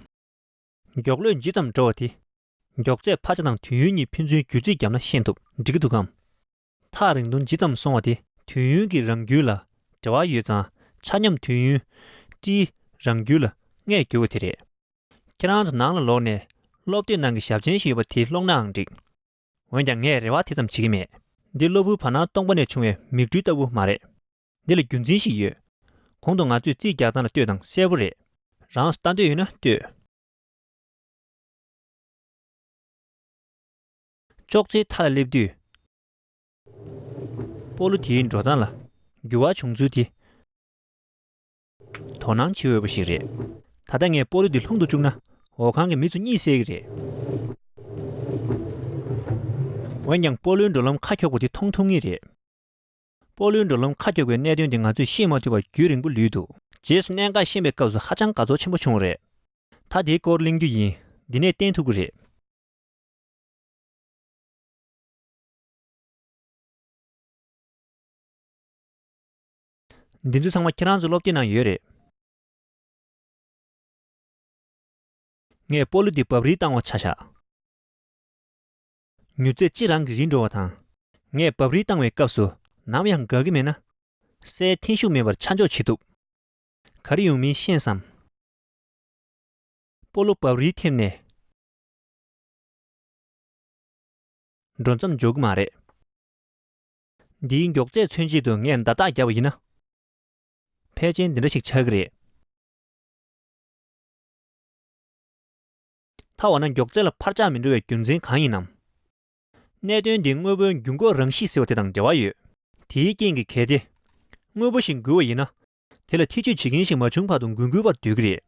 མགྱོགས་ལོད་ཇི་ཙམ་འགྲོ་བ་དེ། མགྱོགས་ཚད་ཕ་ཆ་དང་དུས་ཡུན་གཉིས་ཕན་ཚུན་བརྒྱུད་རྩིས་བརྒྱབ་ན་ཤེས་ཐུབ་འགྲིག་གི་འདུག་གམ། ཐག་རིང་ཐུང་ཇི་ཙམ་སོང་བ་དེ་དུས་ཡུན་གྱི་རང་རྒྱུད་ལ་འབྲེལ་བ་ཡོད་ཙང་ཆ་སྙོམས་དུས་ཡུན་བཀྲིས་རང་རྒྱུད་ལ་ལྔས་བསྒྱུར་བ་དེ་རེད། ཁྱེད་རང་ཚོ་ནང་ལ་ལོག་ནས་སློབ་དེབ་ནང་གི་ཞབས་མཆན་ཞིག་ཡོད་པ་དེ་ཀློག་ནའང་འགྲིགས། འོན་ཀྱང་ངས་རེ་བ་དེ་ཙམ་བྱེད་ཀྱི་མེད། འདི་གློ་བུར་བར་སྣང་སྟོང་པ་ནས་བྱུང་བའི་མིག་འཕྲུལ་ལྟ་བུ་མ་རེད། འདི་ལ་རྒྱུ་མཚན་ཞིག་ཡོད། གོང་དུ་ང་ཚོས་རྩིས་རྒྱག་སྟངས་ལ་ལྟོས་དང་གསལ་བོ་རེད། རང་ལྟ་འདོད་ཡོད་ན་ལྟོས། ཅོག་ཙེའི་མཐའ་ལ་སླེབས་དུས། སྤོ་ལོ་དེའི་འགྲོ་སྟངས་ལ་འགྱུར་བ་བྱུང་ཚུལ་དེ། དོ་སྣང་བྱེད་འོས་པ་ཞིག་རེད། ད་ལྟ་ངས་སྤོ་ལོ་འདི་ལྷུང་དུ་བཅུག་ན་འོ་ཁང་གི་མི་ཚོ་གཉིད་སད་ཀྱི་རེད། འོན་ཀྱང་སྤོ་ལོའི་འགྲོ་ལམ་ཁ་འཁྱོག་པོ་དེ་མཐོང་ཐུབ་ངེས་རེད། སྤོ་ལོའི་འགྲོ་ལམ་ཁ་འཁྱོག་པའི་གནད་དོན་དེ་ང་ཚོས་ཤེས་མ་ཐུབ་པར་རྒྱུས་རིང་པོ་ལུས་འདུག། རྗེས་སུ་གནད་འགག་ཤེས་པའི་སྐབས་སུ་ཧ་ཅང་དགའ་ཚོར་ཆེན་པོ་བྱུང་བ་རེད། ད་དེའི་སྐོར་གླེང་རྒྱུ་ཡིན། འདི་ནས་བསྟན་ཐུབ་ཀྱི་རེད། འདི་ཚོ་ཚང་མ་ཁྱེད་རང་ཚོའི་སློབ་དེབ་ནང་ཡོད་རེད། ངས་སྤོ་ལོ་འདི་བབས་རིས་བཏང་བ་ཆ་བཞག། མྱུར་ཚད་གཅིག་རང་གིས་རིས་འགྲོ་བ་དང། ངས་བབས་རིས་བཏང་བའི་སྐབས་སུ་ནམ་ཡང་དགའ་གི་མེད་ན། སའི་འཐེན་ཤུགས་མེད་པར་ཆ་འཇོག་བྱེད་ཐུབ། ག་རེ་ཡོང་མིན་ཤེས་སམ། སྤོ་ལོ་བབས་རིས་ཐེབས་ནས། འགྲོ་མཚམས་འཇོག་གི་མ་རེད། འདིའི་མགྱོགས་ཚད་མཚོན་བྱེད་དུ་ངས་མདའ་རྟགས་བརྒྱབ་པ་ཡིན་ན། ཕལ་ཆེན་འདི་འདྲ་ཞིག་ཆགས་ཀྱི་རེད། ཐ་འོ་ན་མགྱོགས་ཚད་ལ་འཕར་ཆག་མི་འགྲོ་བའི་རྒྱུ་མཚན་གང་ཡིན་ནམ། གནད་དོན་འདི་དངོས་པོའི་འགྱུར་འགོག་རང་གཤིས་ཟེར་བ་དེ་དང་འབྲེལ་བ་ཡོད། དེའི་རྐྱེན་གྱིས་གལ་ཏེ། དངོས་པོ་ཞིག་འགུལ་བ་ཡིན་ན། དེ་ལ་ཐེ་ཇུས་བྱེད་མཁན་ཞིག་མ་བྱུང་བར་དུ་འགུལ་འགུལ་བ་སྡོད་ཀྱི་རེད།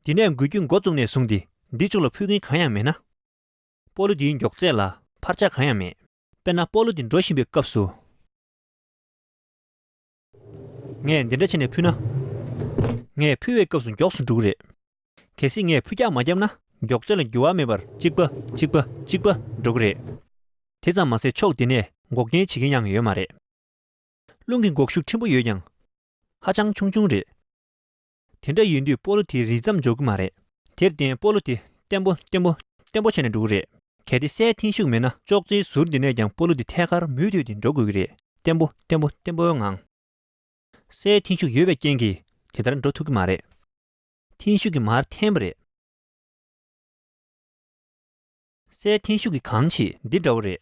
འདི་ནས་འགུལ་སྐྱོད་མགོ་བཙུགས་ནས་བཟུང་སྟེ་འདི་ལྕོགས་ལ་ཕུལ་མཁན་གང་ཡང་མེད་ན། སྤོ་ལོ་འདིའི་མགྱོགས་ཚད་ལ་འཕར་ཆག་གང་ཡང་མེད། དཔེར་ན་སྤོ་ལོ་འདི་འགྲོ་བཞིན་པའི་སྐབས་སུ། ངས་འདི་འདྲ་བྱས་ནས་ཕུལ་ན། ངས་ཕུལ་བའི་སྐབས་སུ་མགྱོགས་སུ་འགྲོ་གི་རེད། གལ་སྲིད་ངས་ཕུ་རྒྱག་མ་བརྒྱབ་ན་མགྱོགས་ཚད་ལ་འགྱུར་བ་མེད་པར་གཅིག་པ་གཅིག་པ་གཅིག་པ་འགྲོ་གི་རེད། དེ་ཙམ་མ་ཟད་ཕྱོགས་འདི་ནས་འགོག་རྐྱེན་བྱེད་མཁན་ཡང་ཡོད་མ་རེད། རླུང་གི་འགོག་ཤུགས་ཕྲན་བུ་ཡོད་ཀྱང། ཧ་ཅང་ཆུང་ཆུང་རེད། དེ་འདྲ་ཡིན་དུས་སྤོ་ལོ་དེ་རིལ་ཙམ་འཇོག་གི་མ་རེད། དེར་བརྟེན་སྤོ་ལོ་དེ་བརྟན་པོ་བརྟན་པོ་བརྟན་པོ་བྱས་ནས་འགྲོ་གི་རེད། གལ་ཏེ་སའི་འཐེན་ཤུགས་མེད་ན་ཅོག་ཙེའི་ཟུར་འདི་ནས་ཀྱང་སྤོ་ལོ་དེ་ཐད་ཀར་མུ་མཐུད་དེ་འགྲོ་དགོས་ཀྱི་རེད། བརྟན་པོ་བརྟན་པོ་བརྟན་པོའི་ངང། སའི་འཐེན་ཤུགས་ཡོད་པའི་རྐྱེན་གྱིས་དེ་ལྟར་འགྲོ་ཐུབ་ཀྱི་མ་རེད། འཐེན་ཤུགས་ཀྱིས་མར་འཐེན་པ་རེད། སའི་འཐེན་ཤུགས་ཀྱིས་གང་བྱེད་འདི་འདྲ་བོ་རེད།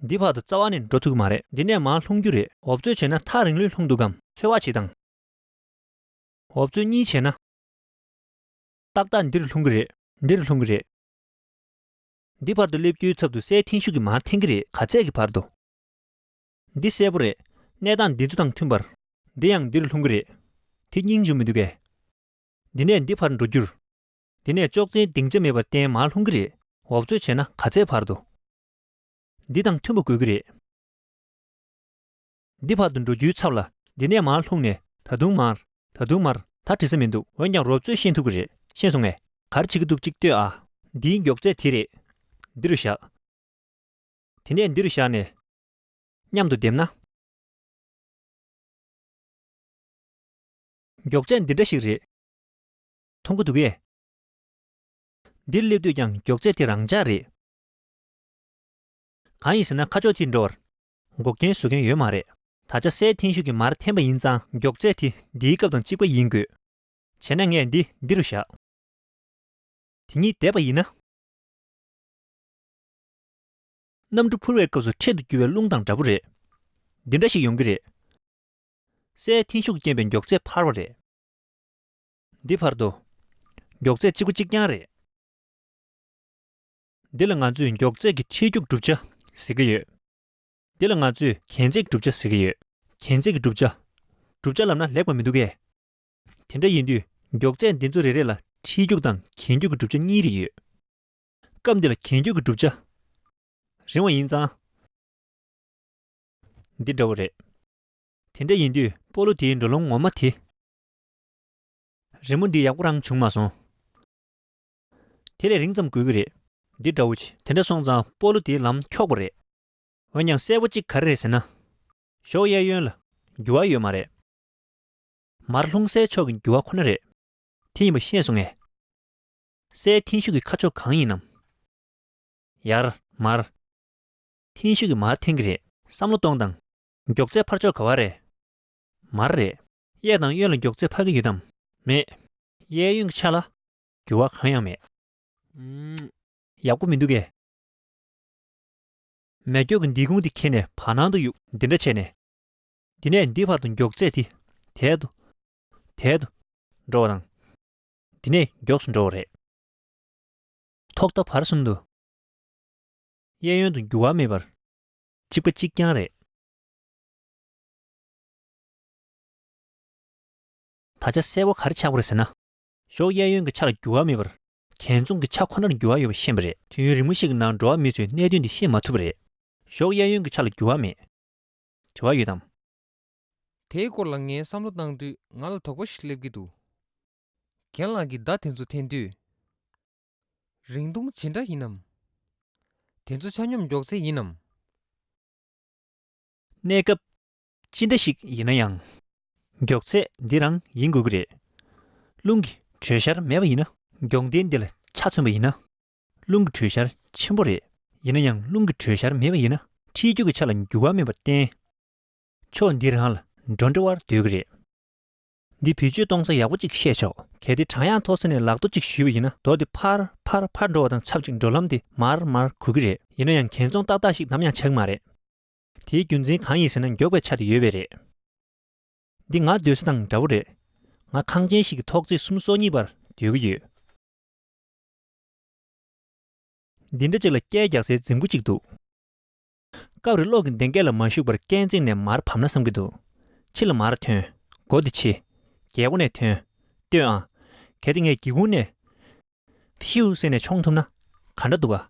འདི་བར་དུ་རྩ་བ་ནས་འགྲོ་ཐུག་གི་མ་རེད་འདི་ནས་མར་ལྷུང་རྒྱུ་རེད། འོབ་རྩོད་བྱས་ན་ཐག་རིང་ལོས་ལྷུང་འདུག་གམ། འཚོལ་བ་བྱེད་དང། འོབ་རྩོད་གཉིས་བྱས་ན། ཏག་ཏག་འདིར་ལྷུང་གི་རེད། འདིར་ལྷུང་གི་རེད། འདི་བར་དུ་སླེབས་རྒྱུའི་ཚབ་ཏུ་སའི་འཐེན་ཤུགས་ཀྱིས་མར་འཐེན་གི་རེད་ག་ཚད་ཀྱི་བར་དུ། འདི་གསལ་པོ་རེད། གནས་སྟངས་འདི་ཚོ་དང་མཐུན་པར། འདི་ཡང་འདིར་ལྷུང་གི་རེད། དེ་སྙིང་འཇུག་མི་འདུག་གས། འདི་ནས་འདི་བར་འགྲོ་རྒྱུར། འདི་ནས་ཅོག་ཙེའི་སྡིངས་ཆ་མེད་པར་བརྟེན་མར་ལྷུང་གི་རེད་འོབ་རྩོད་བྱས་ན་ག་ཚད་བར་དུ། འདི་དང་མཐུན་པོ་དགོས་ཀྱི་རེད། འདི་བར་དུ་འགྲོ་རྒྱུའི་ཚབ་ལ་འདི་ནས་མར་ལྷུང་ནས་ད་དུང་མར། ད་དུང་མར་ད་བྲིས་ས་མི་འདུག་འོན་ཀྱང་རོབ་ཚོད་ཤེས་ཐུབ་ཀྱི་རེད་ཤེས་སོང་ངས་གར་བྱེད་ཀྱི་འདུག་ཅིག་ལྟོས་ཨ། འདིའི་མགྱོགས་ཚད་དེ་རེད། འདི་རུ་བཞག། དེ་ནས་འདི་རུ་བཞག་ནས། མཉམ་དུ་བསྡེབས་ན། མགྱོགས་ཚད་འདི་འདྲ་ཞིག་རེད། མཐོང་གི་འདུག་གས། འདིར་སླེབས་དུས་ཀྱང་མགྱོགས་ཚད་དེ་རང་འཇགས་རེད། གང་ཡིན་ཟེར་ན་ཁ་ཕྱོགས་དེ་འགྲོ་བར། འགོག་རྐྱེན་བཟོ་མཁན་ཡོད་མ་རེད། ད་ཆ་སའི་འཐེན་ཤུགས་ཀྱི་མར་འཐེན་པ་ཡིན་ཙང་མགྱོགས་ཚད་དེ་འདིའི་སྐབས་དང་གཅིག་པ་ཡིན་དགོས། བྱས་ན་ངས་འདི་འདི་རུ་བཞག། དེ་གཉིས་བསྡེབས་པ་ཡིན་ན། གནམ་གྲུ་འཕུར་བའི་སྐབས་སུ་འཕྲེད་དུ་རྒྱུ་བའི་རླུང་དང་འདྲ་པོ་རེད། འདི་འདྲ་ཞིག་ཡོང་གི་རེད། སའི་འཐེན་ཤུགས་རྐྱེན་པས་མགྱོགས་ཚད་འཕར་བ་རེད། འདི་བར་དོ། མགྱོགས་ཚད་གཅིག་པ་གཅིག་རྐྱང་རེད། འདི་ལ་ང་ཚོས་མགྱོགས་ཚད་ཀྱི་ཁྲིད་རྒྱུགས་གྲུབ་ཆ་ཟེར་གྱི་ཡོད། འདི་ལ་ང་ཚོས་གྱེན་ཚེགས་གྲུབ་ཆ་ཟེར་གྱི་ཡོད། གྱེན་ཚེགས་ཀྱི་གྲུབ་ཆ། གྲུབ་ཆ་ལབ་ན་ལེགས་པ་མི་འདུག་གས། དེ་འདྲ་ཡིན་དུས་མགྱོགས་ཚད་འདི་ཚོ་རེ་རེ་ལ་ཁྲིད་རྒྱུགས་དང་གྱེན་རྒྱུགས་ཀྱི་གྲུབ་ཆ་གཉིས་རེ་ཡོད། སྐབས་འདི་ལ་གྱེན་རྒྱུགས་ཀྱི་གྲུབ་ཆ། རིང་བ་ཡིན་ཙང། འདི་འདྲ་བོ་རེད། དེ་འདྲ་ཡིན་དུས་སྤོ་ལོ་དེའི་འགྲོ་ལུང་ངོ་མ་དེ། རི་མོ་འདི་ཡག་པོ་རང་བྱུང་མ་སོང། དེ་ལས་རིང་ཙམ་དགོས་ཀྱི་རེད། འདི་འདྲ་བོ། དེ་འདྲ་སོང་ཙང་སྤོ་ལོ་དེའི་ལམ་འཁྱོག་པོ་རེད། འོན་ཀྱང་གསལ་བོ་གཅིག་ག་རེ་རེད་ཟེར་ན། ཞོགས་གཡས་གཡོན་ལ་འགྱུར་བ་ཡོད་མ་རེད། མར་ལྷུང་སའི་ཕྱོགས་ཀྱི་འགྱུར་བ་ཁོ་ན་རེད། དེ་ཡིན་པ་ཤེས་སོང་ངས། སའི་མཐིང་ཤུགས་ཀྱི་ཁ་ཕྱོགས་གང་ཡིན་ནམ། ཡར། མར། མཐིང་ཤུགས་ཀྱི་མར་འཐེན་གྱི་རེད། བསམ་བློ་གཏོང་དང། མགྱོགས་ཚད་འཕར་ཕྱོགས་ག་བ་རེད། མར་རེད། གཡས་དང་གཡོན་ལ་མགྱོགས་ཚད་འཕར་གྱི་ཡོད་དམ། མེད། གཡས་གཡོན་གྱི་ཆ་ལ། འགྱུར་བ་གང་ཡང་མེད། ཡག་པོ་མི་འདུག་གས། མེ་སྒྱོགས་ཀྱི་འདི་ཁུང་དེ་ཁྱེར་ནས་བར་སྣང་དུ་གཡུག་འདི་འདྲ་བྱས་ནས། འདི་ནས་འདི་བར་དུ་མགྱོགས་ཚད་དེ་དལ་དུ། དལ་དུ། འགྲོ་བ་དང། འདི་ནས་མགྱོགས་སུ་འགྲོ་བ་རེད། ཐོག་མཐའ་བར་གསུམ་དུ། གཡས་གཡོན་དུ་འགྱུར་བ་མེད་པར། གཅིག་པ་གཅིག་རྐྱང་རེད། ད་ཆ་གསལ་བོ་ག་རེ་ཆགས་པ་རེད་ཟེར་ན། གཞོགས་གཡས་གཡོན་གྱི་ཆ་ལ་འགྱུར་བ་མེད་པར་གྱེན་ཚོང་གི་ཆ་ཁོ་ནར་འགྱུར་བ་ཡོད་པ་ཤེས་པ་རེད། དུས་ཡུན་རིང་མོ་ཞིག་གི་ནང་འགྲོ་བ་མི་ཚོས་གནད་དོན་འདི་ཤེས་མ་ཐུབ་པ་རེད། གཞོགས་གཡས་གཡོན་གྱི་ཆ་ལ་འགྱུར་བ་མེད། དྲི་བ་ཡོད་དམ། དེའི་སྐོར་ལ་ངས་བསམ་བློ་བཏང་དུས་ང་ལ་དོགས་པ་ཞིག་སླེབས་ཀྱི་འདུག་རྒན་ལགས་ཀྱིས་བརྡ་དེ་ཚོ་འཐེན་དུས། རིང་ཐུང་ཇི་འདྲ་ཡིན་ནམ། དེ་ཚོ་ཆ་སྙོམས་མགྱོགས་ཚད་ཡིན་ནམ། གནས་སྐབས། ཅི་འདྲ་ཞིག་ཡིན་ན་ཡང། མགྱོགས་ཚད་འདི་རང་ཡིན་དགོས་ཀྱི་རེད། རླུང་གི་དྲོད་ཤར་མེད་པ་ཡིན་ན། མགྱོགས་འདི་འདི་ལ་ཆ་མཚོན་པ་ཡིན་ན། རླུང་གི་དྲོད་ཤར་ཆེན་པོ་རེད། ཡིན་ན་ཡང་རླུང་གི་དྲོད་ཤར་མེད་པ་ཡིན་ན། འཁྲིལ་རྒྱུག་གི་ཆ་ལ་འགྱུར་བ་མེད་པར་བརྟེན། ཕྱོགས་འདི་རང་ལ་འགྲོ་འདྲི་བར་འདོད་ཀྱི་རེད། འདི་བེད་སྤྱོད་གཏོང་ས་ཡག་པོ་གཅིག་བཤད་ཆོག། གལ་ཏེ་བྲང་གཡག་ཐོག་ས་ནས་ལག་རྡོ་གཅིག་གཞུས་པ་ཡིན་ན་རྡོ་དེ་ཕར་ཕར་ཕར་འགྲོ་བ་དང་ཆབས་ཅིག་འགྲོ་ལམ་དེ་མར་མར་གོ་གི་རེད། ཡིན་ན་ཡང་གན་ཚོང་ཏག་ཏག་ཞིག་ནམ་ཡང་ཆགས་ཀྱི་མ་རེད། དེའི་རྒྱུ་མཚན་གང་ཡིན་ཟེར་ན་མགྱོགས་པའི་ཆ་དེ་ཡོད་པས་རེད། འདི་ང་སྡོད་ས་དང་འདྲ་བོ་རེད། ང་ཁང་ཆེན་ཞིག་གི་ཐོག་བརྩེགས་གསུམ་སོ་གཉིས་བར་སྡོད་ཀྱི་ཡོད། འདི་འདྲ་ཅིག་ལ་སྐད་རྒྱག་སའི་རྫིང་བུ་ཅིག་འདུག། སྐབས་རེ་གློག་གི་མདེང་སྐད་ལ་མ་ཞུགས་པར་སྐས་འཛེགས་ནས་མར་བབས་ན་བསམ་གྱི་འདུག་ཕྱི་ལ་མར་ཐོན། སྒོ་དེ་ཕྱི། རྒྱལ་སྒོ་ནས་ཐོན། ལྟོས་ཨང། གལ་ཏེ་ངས་སྒེའུ་ཁུང་ནས། ཧྥེའུ་ཟེར་ནས་མཆོངས་ཐུབ་ན། ག་འདྲ་འདུག་ཨ།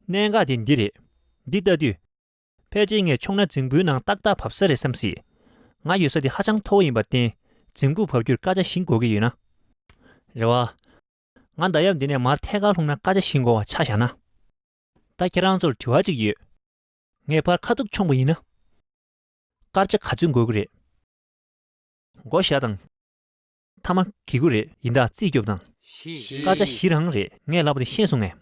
གནད་འགག་དེ་འདི་རེད། འདི་ལྟ་དུས། ཕལ་ཆེར་ངས་ཆུང་ན་རྫིང་བུའི་ནང་ཏག་ཏག་བབས་ས་རེད་བསམ་སྲིད། ང་ཡོད་ས་དེ་ཧ་ཅང་མཐོ་བོ་ཡིན་པར་བརྟེན་རྫིང་བུར་བབས་རྒྱུར་དཀའ་ཆ་ཞིག་འགོ་གི་ཡོད་ན། རེད་བ། ང་མདའ་ཡབ་འདི་ནས་མར་ཐད་ཀར་ལྷུང་ན་དཀའ་ཆ་ཞིག་འགོ་བ་ཆ་བཞག་ན། ད་ཁྱེད་རང་ཚོར་དྲི་བ་གཅིག་ཡོད། ངས་ཕར་ཁ་ཐུག་མཆོངས་པ་ཡིན་ན། དཀར་ཆ་ག་ཚོད་འགོ་གི་རེད། འགོ་བཞག་དང། ཐ་མ་གི་གུ་རེད་ཡིན་ད་རྩིས་སྐྱོབ་དང། སྐར་ཆ་བཞི་རང་རེད་ངས་ལབ་པ་དེ་ཤེས་སོང་ངས།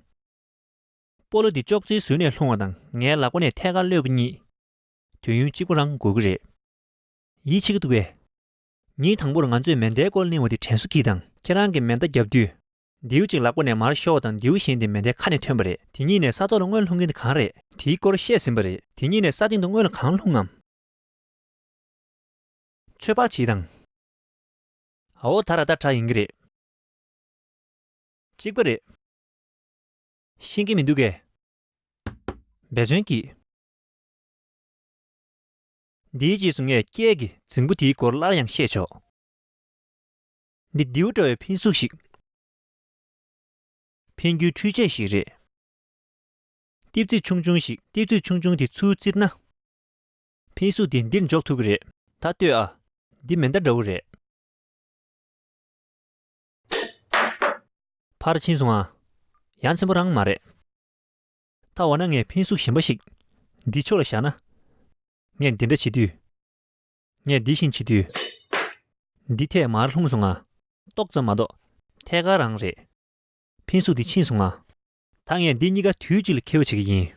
སྤོ་ལོ་འདི་ཅོག་ཙེའི་ཟོལ་ནས་ལྷུང་བ་དང་ངའི་ལག་པ་ནས་ཐད་ཀར་གློད་པ་གཉིས། དུས་ཡུན་གཅིག་པོ་རང་དགོས་ཀྱི་རེད། ཡིད་ཆེས་ཀྱི་འདུག་བས། ཉིན་དང་པོར་ང་ཚོས་མེ་མདའི་སྐོར་གླེང་བ་དེ་དྲན་གསོ་གྱིས་དང། ཁྱེད་རང་གིས་མེ་མདའ་བརྒྱབ་དུས། མདེའུ་གཅིག་ལག་པ་ནས་མར་ཤོར་བ་དང་མདེའུ་གཞན་དེ་མེ་མདའི་ཁ་ནས་ཐོན་པ་རེད་དེ་གཉིས་ནས་ས་ཐོག་ལ་དངོས་ལྷུང་མཁན་དེ་གང་རེད། དེའི་སྐོར་བཤད་ཟིན་པ་རེད་དེ་གཉིས་ནས་ས་སྟེང་དུ་དངོས་ལ་གང་ལྷུང་ངམ། ཚོད་དཔག་བྱས་དང། ཨའོ་ད་ར་ད་གྲགས་ཡིན་གྱི་རེད། གཅིག་པ་རེད། ཤེས་ཀྱི་མི་འདུག་གས། འབད་བརྩོན་གྱིས། འདིའི་རྗེས་སུ་ངས་སྐྱེས་ཀྱི་རྫིང་བུ་དེའི་སྐོར་སླར་ཡང་བཤད་ཆོག། འདི་རྡེའུ་འདྲ་བའི་འཕེན་གཟུགས་ཤིག། འཕེན་རྒྱུའི་འཕྲུལ་ཆས་ཤིག་རེད། ལྟེབ་རྩིག་ཆུང་ཆུང་ཞིག་ལྟེབ་རྩིག་ཆུང་ཆུང་དེ་ཚུར་བཙིར་ན། ཕའི་གཟུགས་དེ་འདིར་འཇོག་ཐུབ་ཀྱི་རེད། ད་ལྟོས་ཨ། འདི་མེ་མདའ་འདྲ་བོ་རེད། ཕར་ཕྱིན་སོང་ཨ། ཡ་མཚན་པོ་རང་མ་རེད། ད་འོ་ན་ངས་ཕའི་གཟུགས་གཞན་པ་ཞིག། འདི་ཕྱོགས་ལ་བཞག་ན། ངས་འདི་འདྲ་བྱེད་དུས། ངས་འདི་བཞིན་བྱེད་དུས། འདི་ཐད་མར་ལྷུང་སོང་ཨ། ཏོག་ཙམ་མ་གཏོགས། ཐད་ཀར་རང་རེད། ཕའི་གཟུགས་འདི་ཕྱིན་སོང་ཨ། ད་ངས་འདི་གཉིས་ཀ་དུས་གཅིག་ལ་ཁེ་བོས་བྱེད་ཀྱི་ཡིན།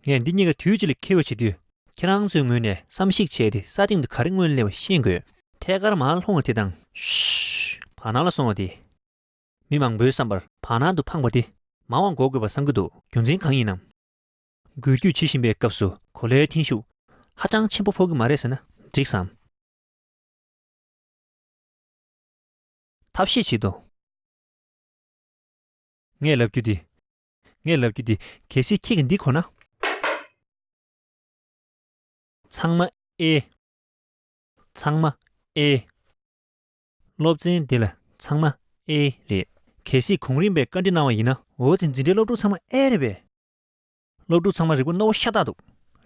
ངས་འདི་གཉིས་ཀ་དུས་གཅིག་ལ་ཁེ་བོས་བྱེད་དུས། ཁྱེད་རང་ཚོའི་ངོས་ནས་བསམ་གཞིགས་བྱས་ཏེ་ས་སྟེང་དུ་ག་རེ་དངོས་གླེང་བ་ཤེས་དགོས། ཐད་ཀར་མར་ལྷུང་བ་དེ་དང། བར་སྣང་ལ་སོང་བ་དེ། མི་མང་པོའི་བསམ་པར་བར་སྣང་དུ་འཕངས་པ་དེ་མང་བ་འགོག་དགོས་པར་བསམ་གྱི་འདུག་རྒྱུ་མཚན་གང་ཡིན་ནམ། འགུལ་སྐྱོད་བྱེད་བཞིན་པའི་སྐབས་སུ་གོ་ལའི་འཐེན་ཤུགས་ཧ་ཅང་ཆེན་པོ་ཕོག་གི་མ་རེད་ཟེར་ན་འགྲིགས་སམ། ཐབས་ཤེས་བྱེད་དོ། ངས་ལབ་རྒྱུ་འདི། ངས་ལབ་རྒྱུ་འདི། གལ་སྲིད་ཁྱེད་ཀྱིས་འདི་གོ་ན། ཚང་མ་ཨེ། ཚང་མ་ཨེ། སློབ་ཚན་འདི་ལ་ཚང་མ་ཨེ་རེད། གལ་སྲིད་གོང་རིམ་པས་བཀའ་འདྲི་གནང་བ་ཡིན་ན། འོ་དེ་འཛིན་གྲྭའི་སློབ་ཕྲུག་ཚང་མ་ཨེ་རེད་པས། སློབ་ཕྲུག་ཚང་མ་རིག་པ་རྣོ་བོ་ཤ་སྟག་འདུག་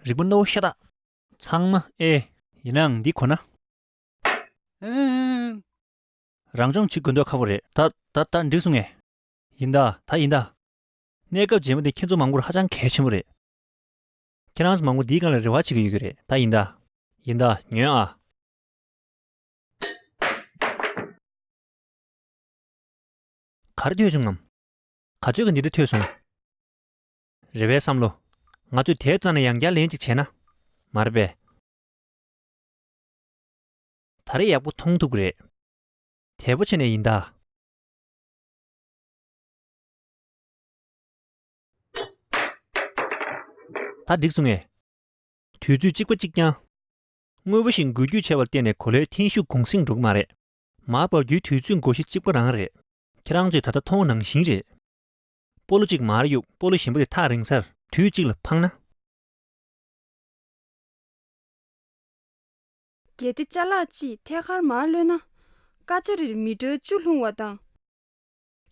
རིག་པ་རྣོ་བོ་ཤ་སྟག། ཚང་མ་ཨེ། ཡིན་ནའང་འདི་གོ་ན། ཨེ། རང་སྦྱོང་བྱེད་དགོས་འདོད་ཁག་པོ་རེད། ད། ད་ལྟ་འགྲིག་སོང་ངས། ཡིན་ད། ད་ཡིན་ད། གནས་སྐབས་རྗེས་མ་འདི་ཁྱེད་ཚོ་མང་པོར་ཧ་ཅང་གལ་ཆེན་པོ་རེད། ཁྱེད་རང་ཚོ་མང་པོ་འདིའི་སྒང་ལ་རེ་བ་བྱེད་ཀྱི་ཡོད་ཀྱི་རེད་ད་ཡིན་ད། ཡིན་ད། ཉོན་ཨ། ག་རེ་ཐོས་བྱུང་ངམ། ག་ཚོད་ཀྱི་འདི་འདྲ་ཐོས་སོང། རེ་བའི་བསམ་བློ། ང་ཚོས་དེའི་སྟེང་ན་ཡང་བསྐྱར་ལན་ཅིག་བྱས་ན། མ་རེད་པས། ད་རེས་ཡག་པོ་མཐོང་ཐུབ་གི་རེད། དལ་པོ་བྱས་ནས་ཡིན་ད། ད་འགྲིག་སོང་ངས། དུས་ཚོད་གཅིག་པ་གཅིག་རྐྱང། དངོས་པོ་ཞིག་འགུལ་རྒྱུ་ཆེ་བར་བརྟེན་ནས་གོ་ལའི་འཐེན་ཤུགས་གུང་སེང་འགྲོ་གི་མ་རེད། མར་འབབ་རྒྱུའི་དུས་ཚོད་འགོ་བཞི་གཅིག་པ་རང་རེད། ཁྱེད་རང་ཚོས་ད་ལྟ་མཐོང་བ་ནང་བཞིན་རེད། སྤོ་ལོ་གཅིག་མར་གཡུག་སྤོ་ལོ་གཞན་པ་དེ་ཐག་རིང་སར་དུས་གཅིག་ལ་འཕངས་ན། གལ་ཏེ་བཅའ་ལག་ཅིག་ཐད་ཀར་མར་གློད་ན། སྐར་ཆ་རེར་མི་ཀྲོལ་བཅུ་ལྷུང་བ་དང།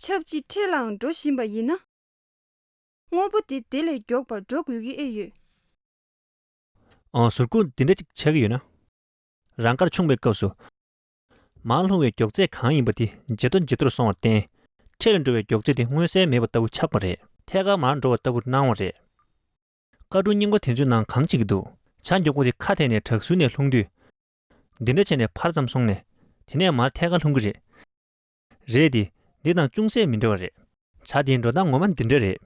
ཆབས་ཅིག་ཁྲེས་ལའང་འགྲོ་བཞིན་པ་ཡིན་ན། དངོས་པོ་དེ་དེ་ལས་མགྱོགས་པར་འགྲོ་དགོས་ཀྱི་ཨེ་ཡོད། ཨང་ཟུར་ཁུག་འདི་འདྲ་ཅིག་ཆགས་ཀྱི་ཡོད་ན། རང་སྐར་ཆུང་བའི་སྐབས་སུ། མར་ལྷུང་བའི་མགྱོགས་ཚད་གང་ཡིན་པ་དེ་ཇེ་མཐོ་ཇེ་མཐོར་སོང་བར་བརྟེན། ཁྲེས་ལ་འགྲོ་བའི་མགྱོགས་ཚད་དེ་མངོན་གསལ་མེད་པ་ལྟ་བུ་ཆགས་པ་རེད། ཐད་ཀར་མར་འགྲོ་བ་ལྟ་བུར་སྣང་བ་རེད། བཀའ་དྲུང་སྙིང་པོ་དེ་ཚོའི་ནང་གང་ཅིག་འདུག་བྱ་མགྱོགས་པོ་དེ་ཁ་ཐད་ནས་བྲག་ཟུར་ནས་ལྷུང་དུས། འདི་འདྲ་བྱས་ནས་ཕར་ཙམ་སོང་ནས། དེ་ནས་མར་ཐད་ཀ་ལྷུང་གི་རེད། རེད་དེ། འདི་དང་ཅུང་ཟད་མི་འདྲ་བ་རེད། བྱ་དེའི་འགྲོ་སྟངས་ངོ་མ་འདི་འདྲ་རེད།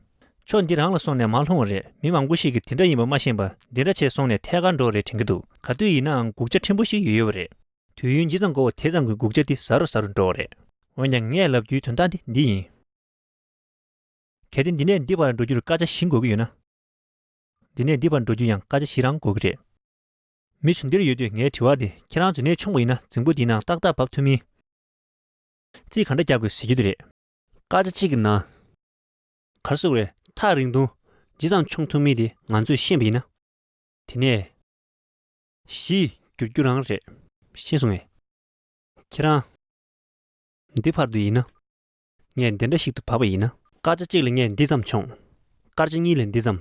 ཕྱོགས་འདི་རང་ལ་སོང་ནས་མར་ལྷུང་བ་རེད་མི་མང་པོ་ཞིག་གིས་དེ་འདྲ་ཡིན་པ་མ་ཤེས་པར་འདི་འདྲ་བྱས་སོང་ནས་ཐད་ཀར་འགྲོ་བ་རེད་དྲན་གྱི་འདུག་ག་དུས་ཡིན་ནའང་སྒུག་བྱ་ཕྲན་བུ་ཞིག་ཡོད་ཡོད་པ་རེད། དུས་ཡུན་ཇི་ཙམ་འགོར་བ་དེ་ཙམ་གྱིས་སྒུག་བྱ་འདི་ཟ་རུ་ཟ་རུ་འགྲོ་བ་རེད། འོན་ཀྱང་ངས་ལབ་རྒྱུའི་དོན་དག་འདི་འདི་ཡིན། གལ་ཏེ་འདི་ནས་འདི་བར་འགྲོ་རྒྱུར་སྐར་ཆ་བཞི་འགོར་གྱི་ཡོད་ན། འདི་ནས་འདི་བར་འགྲོ་རྒྱུར་ཡང་སྐར་ཆ་བཞི་རང་འགོར་གྱི་རེད། མི་ཚོ་འདིར་ཡོད་དུས་ངའི་དྲི་བ་འདི་ཁྱེད་རང་ཚོས་ནད་ཆུང་བ་ཡིན་ན་རྫིང་བུ་འདིའི་ནང་ཏག་ཏག་བབས་ཐུབ་མིན། རྩིས་ག་འདྲ་རྒྱག་དགོས་ཟེར་རྒྱུ་དེ་རེད། སྐར་ཆ་གཅིག་གི་ནང། གར་སོང་བའི་ཐག་རིང་ཐུང་ཇི་ཙམ་མཆོང་ཐུབ་མིན་དེ་ང་ཚོས་ཤེས་པ་ཡིན་ན། དེ་ནས། བཞི། འགྱུར་རྒྱུ་རང་རེད། ཤེས་སོང་ངས། ཁྱེད་རང། འདི་བར་དུ་ཡིན་ན། ངས་འདི་འདྲ་ཞིག་ཏུ་བབས་པ་ཡིན་ན། སྐར་ཆ་གཅིག་ལ་ངས་འདི་ཙམ་མཆོངས། སྐར་ཆ་གཉིས་ལ་འདི་ཙམ།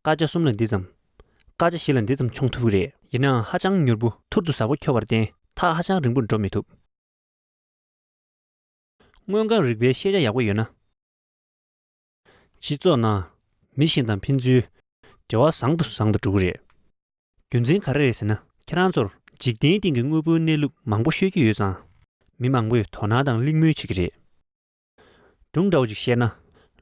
སྐར་ཆ་གསུམ་ལ་འདི་ཙམ། སྐར་ཆ་བཞི་ལ་འདི་ཙམ་མཆོངས་ཐུབ་ཀྱི་རེད། ཡིན་ནའང་ཧ་ཅང་མྱུར་པོ་ཐུར་དུ་ཟ་བོ་འཁྱོར་བར་བརྟེན་ཐག་ཧ་ཅང་རིང་པོར་འགྲོ་མི་ཐུབ། དངོས་ཁམས་རིག་པའི་ཤེས་བྱ་ཡག་པོ་ཡོད་ན། སྤྱི་ཚོགས་ནང། མི་གཞན་དང་ཕན་ཚུན། འབྲེལ་བ་བཟང་དུ་བཟང་དུ་འགྲོ་གི་རེད། རྒྱུ་མཚན་ག་རེ་རེད་ཟེར་ན། ཁྱེད་རང་ཚོར་འཇིག་རྟེན་སྟེང་གི་དངོས་པོའི་གནས་ལུགས་མང་པོ་ཤོད་ཀྱི་ཡོད་ཙང། མི་མང་པོས་དོ་སྣང་དང་གླེང་མོལ་བྱེད་ཀྱི་རེད། སྒྲུང་འདྲ་བོ་ཅིག་བཤད་ན།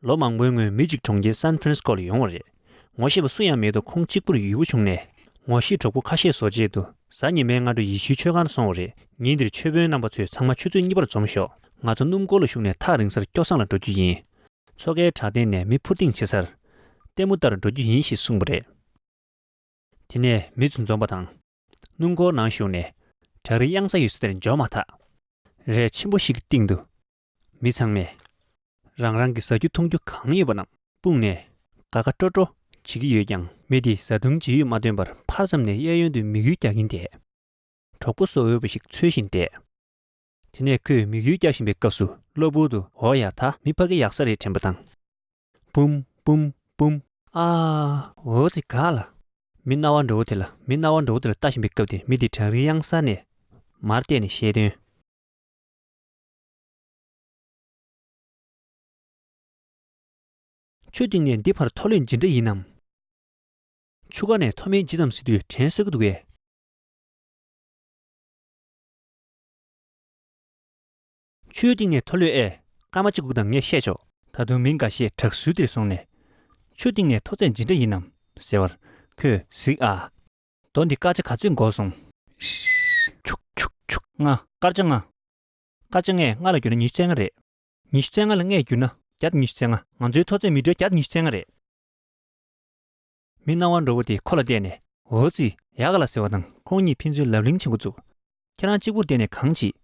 ལོ་མང་པོའི་སྔོན་མི་གཅིག་གྲོང་ཁྱེར San Francisco ལ་ཡོང་བ་རེད། ངོ་ཤེས་པ་སུ་ཡང་མེད་འདུག་ཁོང་གཅིག་པུར་ཡུལ་བུ་བྱུང་ནས། ངོ་ཤེས་གྲོགས་པོ་ཁ་ཤས་བཟོ་རྗེས་དུ་གཟའ་ཉི་མའི་སྔ་དྲོ་ཡེ་ཤུའི་ཆོས་ཁང་དུ་སོང་བ་རེད། ཉིན་དེར་ཆོས་དཔོན་རྣམ་པ་ཚོས་ཚང་མ་ཆུ་ཚོད་གཉིས་པར་འཛོམས་ཤོག་ང་ཚོ་སྣུམ་འཁོར་ལ་ཞུགས་ནས་ཐག་རིང་སར་སྐྱོ་བསང་ལ་འགྲོ་རྒྱུ་ཡིན། མཚོ་ཁའི་བྲག་སྟེང་ནས་མི་འཕུར་ལྡིང་བྱེད་སར། ལྟད་མོ་ལྟར་འགྲོ་རྒྱུ་ཡིན་ཞེས་གསུངས་པ་རེད། དེ་ནས་མི་ཚོ་འཛོམས་པ་དང། སྣུམ་འཁོར་ནང་ཞུགས་ནས། བྲག་རིའི་གཡང་ས་ཡོད་ས་དེར་འབྱོར་མ་ཐག། རས་ཆེན་པོ་ཞིག་གི་སྟེང་དུ། མི་ཚང་མས། རང་རང་གི་ཟ་རྒྱུ་འཐུང་རྒྱུ་གང་ཡོད་པ་རྣམས་སྤུངས་ནས། དགའ་དགའ་སྤྲོ་སྤྲོ་བྱེད་ཀྱི་ཡོད་ཀྱང། མི་དེས་བཟའ་བཏུང་ཇི་ཡོད་མ་ཐོན་པར་ཕར་ཙམ་ནས་གཡས་གཡོན་དུ་མིག་ཡུལ་རྒྱག་གིན་བསྡད། གྲོགས་པོ་སོ་འོས་པ་ཞིག་འཚོལ་བཞིན་བསྡད། དེ་ནས་ཁོས་མིག་ཡུལ་རྒྱག་བཞིན་པའི་སྐབས་སུ་གློ་བུར་དུ་འོ་ཡ་ད་མི་ཕ་གི་ཡག་ས་རེད་དྲན་པ་དང། བུམ། བུམ། བུམ། ཨ། འོ་ཙི་ག་ལ། མི་རྣ་བ་འདྲ་བོ་དེ་ལ་མི་རྣ་བ་འདྲ་བོ་དེ་ལ་ལྟ་བཞིན་པའི་སྐབས་དེ་མི་དེ་བྲག་རིའི་གཡང་གཟར་ནས། མར་བལྟས་ནས་བཤད་དོན། ཆུ་གཏིང་ནས་འདི་བར་ཐོ་ལོས་ཇི་འདྲ་ཡིན་ནམ། ཆུ་ཁ་ནས་ཐོ་མེད་ཇི་ཙམ་བཟི་དུས་དྲན་སྲོལ་གྱི་འདུག་གས། ཆུའི་གཏིང་ནས་མཐོ་ལོས་ཨེ། སྐར་མ་གཅིག་གུག་དང་ངས་བཤད་ཆོག། ད་དུང་མི་འགའ་ཤས་བྲག་ཟུར་དེར་སོང་ནས། ཆུ་གཏིང་ནས་མཐོ་ཚད་ཇི་འདྲ་ཡིན་ནམ། ཟེར་བར། ཁོས་གཟིགས་ཨ། རྡོ་འདི་སྐར་ཆ་ག་ཚོད་འགོག་སོང། ལྔ། སྐར་ཆ་ལྔ། སྐར་ཆ་ལྔས་ལྔ་ལ་བསྒྱུར་ན་ཉི་ཤུ་རྩེ་ལྔ་རེད། ཉི་ཤུ་རྩེ་ལྔ་ལ་ལྔས་བསྒྱུར་ན་བརྒྱ་ཉི་ཤུ་རྩེ་ལྔ། ང་ཚོའི་མཐོ་ཚད་མི་སྒྲོལ་བརྒྱ་ཉི་ཤུ་རྩེ་ལྔ་རེད། མི་སྣང་བ་འགྲོ་བོ་དེ་ཁོ་ལ་བལྟས་ནས། འོ་ཙི། ཡག་ག་ལ་ཟེར་བ་དང་ཁོང་གཉིས་ཕན་ཚུན་ལབ་གླེང་བྱེད་འགོ་བཙུགས། ཁྱེད་རང་གཅིག་པུར་བལྟས་ནས་གང་བྱེད།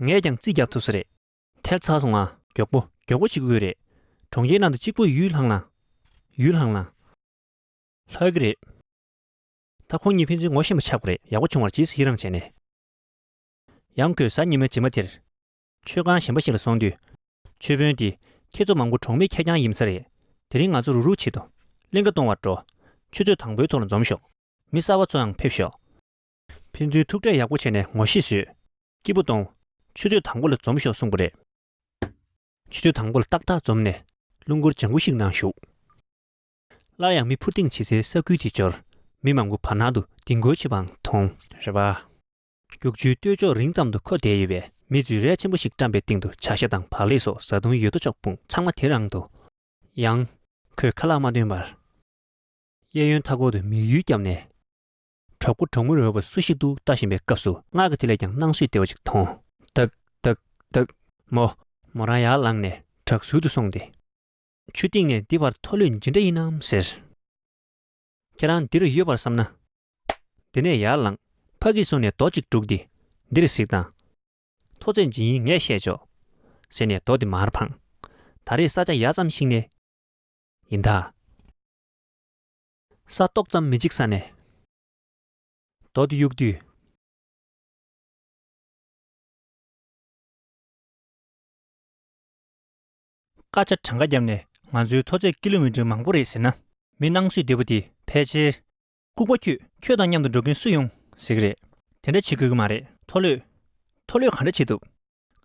ངས་ཀྱང་རྩིས་རྒྱག་ཐུབ་ས་རེད། ཐལ་ཚ་སོང་ང། མགྱོགས་པོ་མགྱོགས་པོ་བྱེད་དགོས་རེད། གྲོང་ཁྱེར་ནང་དུ་གཅིག་པུ་ཡུལ་ལྷང་ལྷང། ཡུལ་ལྷང་ལྷང། ལྷག་གི་རེད། ད་ཁོང་གཉིས་ཕན་ཚུན་ངོ་ཤེས་པ་ཆགས་དགོས་རེད་ཡག་པོ་བྱུང་བར་ཇི་སྲིད་ཡི་རངས་བྱས་ནས། ཡང་ཁོས་གཟའ་ཉི་མའི་རྗེས་མ་དེར། མཆོད་ཁང་གཞན་པ་ཞིག་ལ་སོང་དུས། མཆོད་དཔོན་དེས། ཁྱེད་ཚོ་མང་པོ་གྲོང་མིས་ཁེར་རྐྱང་ཡིན་ས་རེད། དེ་རིང་ང་ཚོ་རུག་རུག་བྱེད་དུ། གླིང་ཁ་སྟོང་བར་འགྲོ། ཆུ་ཚོད་དང་པོའི་ཐོག་ལ་འཛོམས་ཤོག། མི་གསར་བ་ཚོ་ཡང་ཕེབས་ཤོག། ཕན་ཚུན་ཐུག་འཕྲད་ཡག་པོ་བྱས་ནས་ངོ་ཤེས་བཟོས། སྐྱིད་པོ་གཏོང། ཆུ་ཚོད་དང་པོ་ལ་འཛོམས་ཤོག་གསུངས་པ་རེད། ཆུ་ཚོད་དང་པོ་ལ་ཏག་ཏག་འཛོམས་ནས། རླུང་འཁོར་ལྗང་གུ་ཞིག་ནང་ཞུགས། སླར་ཡང་མི་འཕུར་ལྡིང་བྱེད་སའི་ས་ཁུལ་དེ་འབྱོར། མི་མང་པོ་བར་སྣང་དུ་ལྡིང་དགོས་ཆེ་བའང་མཐོང། རེད་པ། རྒྱུག་ཆུའི་སྟོད་ཕྱོགས་རིང་ཙམ་དུ་འཁོད་བསྡད་ཡོད་པའི་མི་རྫུན་རལ་ཆེན་པོ་ཞིག་བཀྲམ་པའི་སྟེང་དུ་བྱ་ཤ་དང་བག་ལེབ་སོགས་བཟའ་བཏུང་ཡོད་དོ་ཅོག་སྤུངས་ཚང་མ་དེ་རང་དུ། ཡང། ཁོས་ཁ་ལག་མ་བཏོན་པར། གཡས་གཡོན་མཐའ་སྐོར་དུ་མིག་ཡུལ་བརྒྱབ་ནས། གྲོགས་པོ་གྲོགས་མོ་རོལ་བ་སུ་ཞིག་འདུག་ལྟ་བཞིན་པའི་སྐབས་སུ་སྔར་གྱི་དེ་ལས་ཀྱང་སྣང་སུས་བདེ་བ་ཅིག་མཐོང། བདག། བདག། བདག། མོ། མོ་རང་ཡར་ལངས་ནས་བྲག་ཟུར་དུ་སོང་སྟེ། ཆུ་སྟེང་ནས་འདི་བར་མཐོ་ལོས་ཇི་འདྲ་ཡིན་ནམ་ཟེར། ཁྱེད་རང་འདིར་ཡོད་པར་བསམ་ན། དེ་ནས་ཡར་ལངས། ཕ་གིས་གསུངས་ནས་རྡོ་གཅིག་སྤྲུགས་ཏེ། འདིར་གཟིགས་དང། ཐོ་བཙན་ཇི་ཡིན་ངས་བཤད་ཆོག། ཟེར་ནས་རྡོ་དེ་མར་འཕངས། ད་རེས་ས་ཆ་ཡག་ཙམ་ཞིག་ནས། ཡིན་ད། ས་ཏོག་ཙམ་མི་འཇིག་ས་ནས། རྡོ་དེ་གཡུགས་དུས། སྐད་ཆ་གྲངས་ཀ་བརྒྱབ་ནས་ང་ཚོའི་མཐོ་ཚད་ཀི་ལོ་མི་ཏྲི་མང་པོ་རེད་ཟེར་ན། མི་སྣང་སུས་བདེ་པོ་དེ་ཕལ་ཆེར། ལྐུགས་པ་ཁྱོད་ཁྱོད་དང་མཉམ་དུ་འགྲོ་མཁན་སུ་ཡོང་ཟེར་གི་རེད། དེ་འདྲ་བྱེད་དགོས་ཀྱི་མ་རེད། མཐོ་ལོས། མཐོ་ལོས་ག་འདྲ་བྱེད་ཐུབ།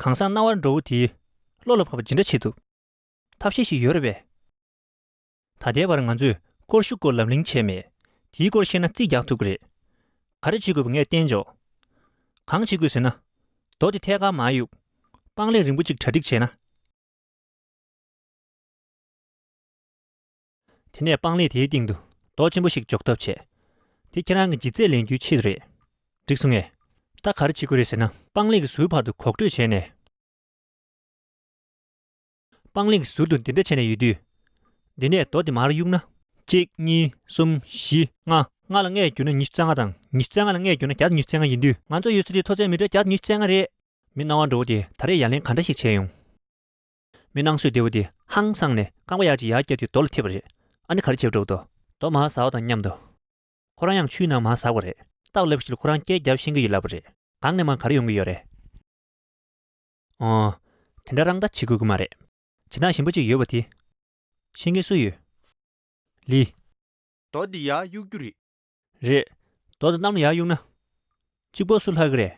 གང་ཟག་རྣ་བར་འགྲོ་བོ་དེའི། བློ་ལ་བབ་པ་ཇི་འདྲ་བྱེད་ཐུབ། ཐབས་ཤེས་ཤིག་ཡོད་རེད་པས། ད་ལྟའི་བར་ང་ཚོས་སྐོར་ཞུ་སྐོར་ལབ་གླེང་བྱས་མེད། དེའི་སྐོར་ཤེས་ན་རྩིས་རྒྱག་ཐུབ་ཀྱི་རེད། ག་རེ་བྱེད་དགོས་པ་ངས་བསྟན་འཇོག། གང་བྱེད་དགོས་ཟེར་ན། རྡོ་དེ་ཐད་ཀར་མ་གཡུག། པང་ལས་རིང་པོ་གཅིག་གྲ་སྒྲིག་བྱས་ན། དེ་ནས་པང་ལས་དེའི་སྟེང་དུ་རྡོ་ཆེན་པོ་ཞིག་འཇོག་ཐབས་བྱས། དེ་ཁྱེད་རང་གི་ལྗིད་ཚད་ལེན་རྒྱུའི་ཆེད་དུ་རེད། འགྲིག་སོང་ངས། ད་ག་རེ་བྱེད་དགོས་རེད་ཟེར་ན། པང་ལས་ཀྱི་ཟུར་བར་དུ་གོག་འགྲོས་བྱས་ནས། སྤང་ལེགས་ཟུར་དུ་འདི་འདྲ་བྱས་ནས་ཡོད་དུས། འདི་ནས་རྡོ་འདི་མར་གཡུགས་ན། གཅིག་གཉིས་གསུམ་བཞི་ལྔ། ལྔ་ལ་ལྔས་བསྒྱུར་ན་ཉི་ཤུ་རྩ་ལྔ་དང་ཉི་ཤུ་རྩ་ལྔ་ལ་ལྔས་བསྒྱུར་ན་གྱ་ཉི་ཤུ་རྩ་ལྔ་ཡིན་དུས། ང་ཚོ་ཡོད་ཚད་ཀྱི་མཐོ་ཚད་མི་གྲངས་གྱ་ཉི་ཤུ་རྩ་ལྔ་རེད། མི་སྣང་བ་འགྲོ་བོ་དེ་ད་རེས་ཡར་ལེན་ག་འདྲ་ཞིག་བྱས་ཡོང། མི་སྣང་སོས་བདེ་བོ་དེ་ཧང་སངས་ནས་རྐང་པ་ཡར་གྱིས་ཡར་བཀྱགས་དུས་རྡོ་ལ་འཐིབས་པ་རེད། ཨ་ནི་ག་རེ་བྱེད་འགྲོ་བོ་དོ། རྡོ་མར་ཟ་བ་དང་མཉམ་དུ། ཁོ་རང་ཡང་ཆུའི་ནང་མར་ཟགས་པ་རེད། སྟག་ལབ་བཞིན་ཁོ་རང་སྐད་བརྒྱབ་ཤེས་ཀྱི་ཡོད་ལབ་པ་རེད། གང་ནས་མར་ག་རེ་ཡོང་གི་ཡོད་རེད། འོང། དེ་འདྲ་རང་ད་བྱེད་དགོས་ཀྱི་མ་རེད། བྱེད་སྟངས་གཞན་པ་གཅིག་ཡོད་པ་དེ། ཤེས་མཁན་སུ་ཡོད། ལི། རྡོ་འདི་ཡར་གཡུག་རྒྱུ་རེད། རེད། རྡོ་དང་གཏམ་ལ་ཡར་གཡུག་ན། གཅིག་པོ་སུ་ལྷག་གི་རེད།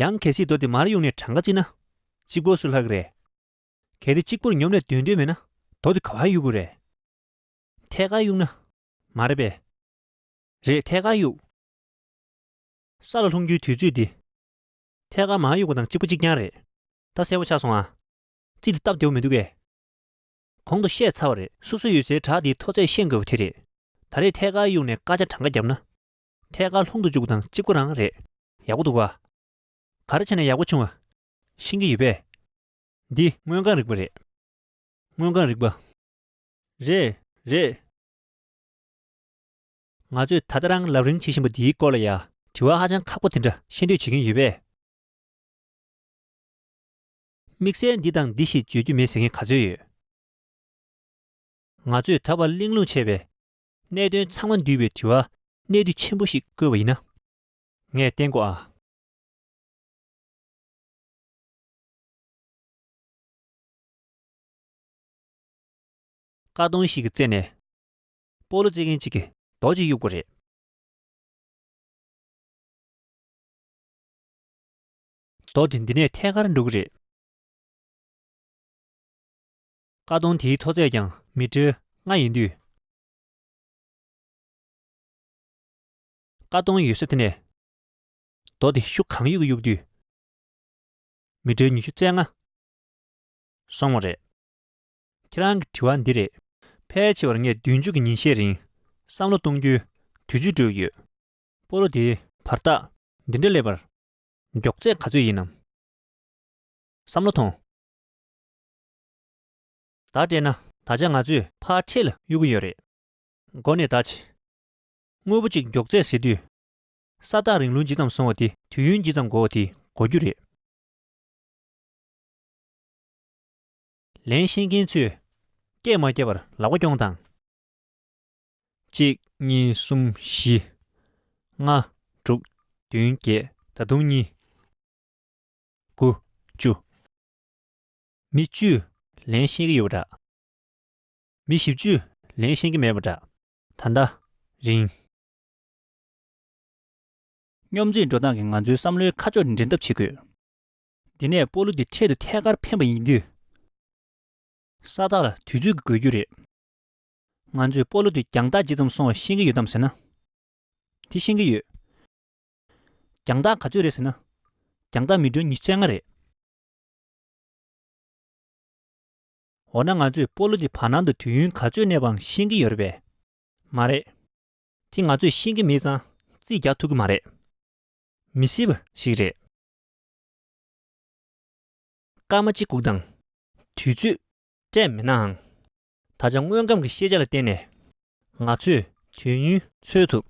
ཡང་གལ་སྲིད་རྡོ་འདི་མར་གཡུག་ནས་གྲངས་ཀ་བརྩིས་ན། གཅིག་པོ་སུ་ལྷག་གི་རེད། གལ་ཏེ་གཅིག་པོར་ཉོབ་ནས་སྡོད་འདོད་མེད་ན་རྡོ་འདི་ག་བར་གཡུག་དགོས་རེད། ཐད་ཀར་གཡུག་ན། མ་རེད་པས། རེད་ཐད་ཀར་གཡུག། ས་ལ་ལྷུང་རྒྱུའི་དུས་ཚོད་འདི། ཐད་ཀར་མ་གཡུག་པ་དང་གཅིག་པོ་གཅིག་རྐྱང་རེད། ད་གསལ་བོ་ཆགས་སོང་ཨ། ཙི་དེ་སྟབས་བདེ་བོ་མི་འདུག་གས། གོང་དུ་བཤད་ཚར་བ་རེད། སོ་སོ་ཡོད་སའི་བྲག་དེའི་མཐོ་ཚད་ཤེས་དགོས་པ་དེ་རེད། ད་རེས་ཐད་ཀར་གཡུག་ནས་སྐར་ཆ་གྲངས་ཀ་བརྒྱབ་ན། ཐད་ཀར་ལྷུང་དུ་བཅུག་པ་དང་གཅིག་པོ་རང་རེད། ཡག་པོ་འདུག་ཨ། ག་རེ་བྱས་ན་ཡག་པོ་བྱུང་ཨ། ཤིང་གི་ཡོད་པས། འདི། སྔོན་གང་རིག་པ་རེད། སྔོན་གང་རིག་པ། རེད། རེད། ང་ཚོས་ད་ལྟ་རང་ལབ་རིང་བྱེད་བཞིན་པ་འདིའི་སྐོར་ལ་ཡང་དྲི་བ་ཧ་ཅང་ཁག་པོ་དེ་འདྲ་ཤེས་འདོད་བྱེད་ཀྱིན་ཡོད་པས། དམིགས་བསལ་འདི་དང་འདི་ཞེས་བརྗོད་རྒྱུ་མེད་ཟེར་མཁན་ག་ཚོད་ཡོད། ང་ཚོས་ད་བར་གླེང་སློང་བྱས་པའི་གནད་དོན་ཚང་མ་འདུས་པའི་དྲི་བ་གནད་དུ་ཆེན་པོ་ཞིག་བཀོད་པ་ཡིན་ན། ངས་བསྟན་གོ་ཨ། ཀ་སྟོང་ཞིག་གི་རྩེ་ནས། སྤོ་ལོ་རྩེད་མཁན་གཅིག་གིས་རྡོ་གཅིག་གཡུགས་པ་རེད། རྡོ་དེ་འདི་ནས་ཐད་ཀར་འགྲོ་གི་རེད། ཀ་གདོང་དེའི་མཐོ་ཚད་ཀྱང་མི་ཀྲེར་ལྔ་ཡིན་དུས། ཀ་གདོང་ཡོད་ས་དེ་ནས་རྡོ་དེ་ཤུགས་གང་ཡོད་ཀྱིས་གཡུགས་དུས། མི་ཀྲེར་ཉི་ཤུ་རྩེག་ལྔ་སོང་བ་རེད། ཁྱེད་རང་གི་དྲི་བ་འདི་རེད། ཕལ་ཆེ་བར་ངས་བདུན་ཅུ་གི་ཉིན་ཤས་རིང་བསམ་བློ་གཏོང་རྒྱུའི་དུས་ཚོད་སྤྲོད་ཀྱི་ཡོད། སྤོ་ལོ་དེའི་བར་ཐག་འདི་འདྲ་སླེབས་པར་མགྱོགས་ཚད་ག་ཚོད་ཡིན་ནམ་བསམ་བློ་ཐོངས། ད་སྤྲད་ན་ད་ཆ་ང་ཚོས་ཕར་འཕྲེད་ལ་གཡུག་གི་ཡོད་རེད། མགོ་ནས་ད་ཇི། དངོས་པོ་གཅིག་མགྱོགས་ཚད་ཟེར་དུས། ས་བདག་རིང་ལུགས་ཇི་ཙམ་སོང་བ་དེ་དུས་ཡུན་ཇི་ཙམ་འགོར་བ་དེ་གོ་རྒྱུ་རེད། ལན། ཤེས་མཁན་ཚོས་སྐད་མ་བརྒྱབ་པར་ལག་པ་རྐྱོང་དང། གཅིག་གཉིས་གསུམ་བཞི་ལྔ་དྲུག་བདུན་བརྒྱད་ད་དུང་གཉིས། དགུ། བཅུ། མི་བཅུས་ལན་ཤེས་ཀྱི་ཡོད་པ་འདྲ། མི་བཞི་བཅུས་ལན་ཤེས་ཀྱི་མེད་པ་འདྲ། ད་ལྟ། རིང། སྙོམས་འཛིན་འགྲོ་སྟངས་ཀྱི་ང་ཚོའི་བསམ་བློའི་ཁ་ཕྱོགས་འབྲི་ཐབས་བྱེད་དགོས། དེ་ནས་སྤོ་ལོ་དེ་འཕྲལ་དུ་ཐད་ཀར་འཕེན་པ་ཡིན་དུས། ས་རྟགས་ལ་དུས་ཚོད་ཀྱི་དགོས་རྒྱུ་རེད། ང་ཚོས་སྤོ་ལོ་དེ་རྒྱང་ཐག་ཇི་ཙམ་སོང་བ་ཤེས་ཀྱི་ཡོད་དམ་ཟེར་ན། དེ་ཤེས་ཀྱི་ཡོད། རྒྱང་ཐག་ག་ཚོད་རེད་ཟེར་ན། རྒྱང་ཐག་མི་གྲངས་ཉིས་བརྩེགས་ལྔ་རེད། འོ་ན་ང་ཚོས་སྤོ་ལོ་དེ་བར་སྣང་དུ་དུས་ཡུན་ག་ཚོད་གནས་པའང་ཤེས་ཀྱི་ཡོད་རེད་པས། མ་རེད། དེ་ང་ཚོས་ཤེས་ཀྱི་མེད་ཙང་རྩིས་རྒྱག་ཐུབ་ཀྱི་མ་རེད། མི་སྲིད་པ་ཞིག་རེད། སྐར་མ་གཅིག་བསྒུགས་དང། དུས་ཚོད། སྤྲད་མེད་ནའང། ད་ཆ་དངོས་ཁམས་ཀྱི་ཤེས་བྱ་ལ་བརྟེན་ནས། ང་ཚོས་དུས་ཡུན། འཚོལ་ཐུབ།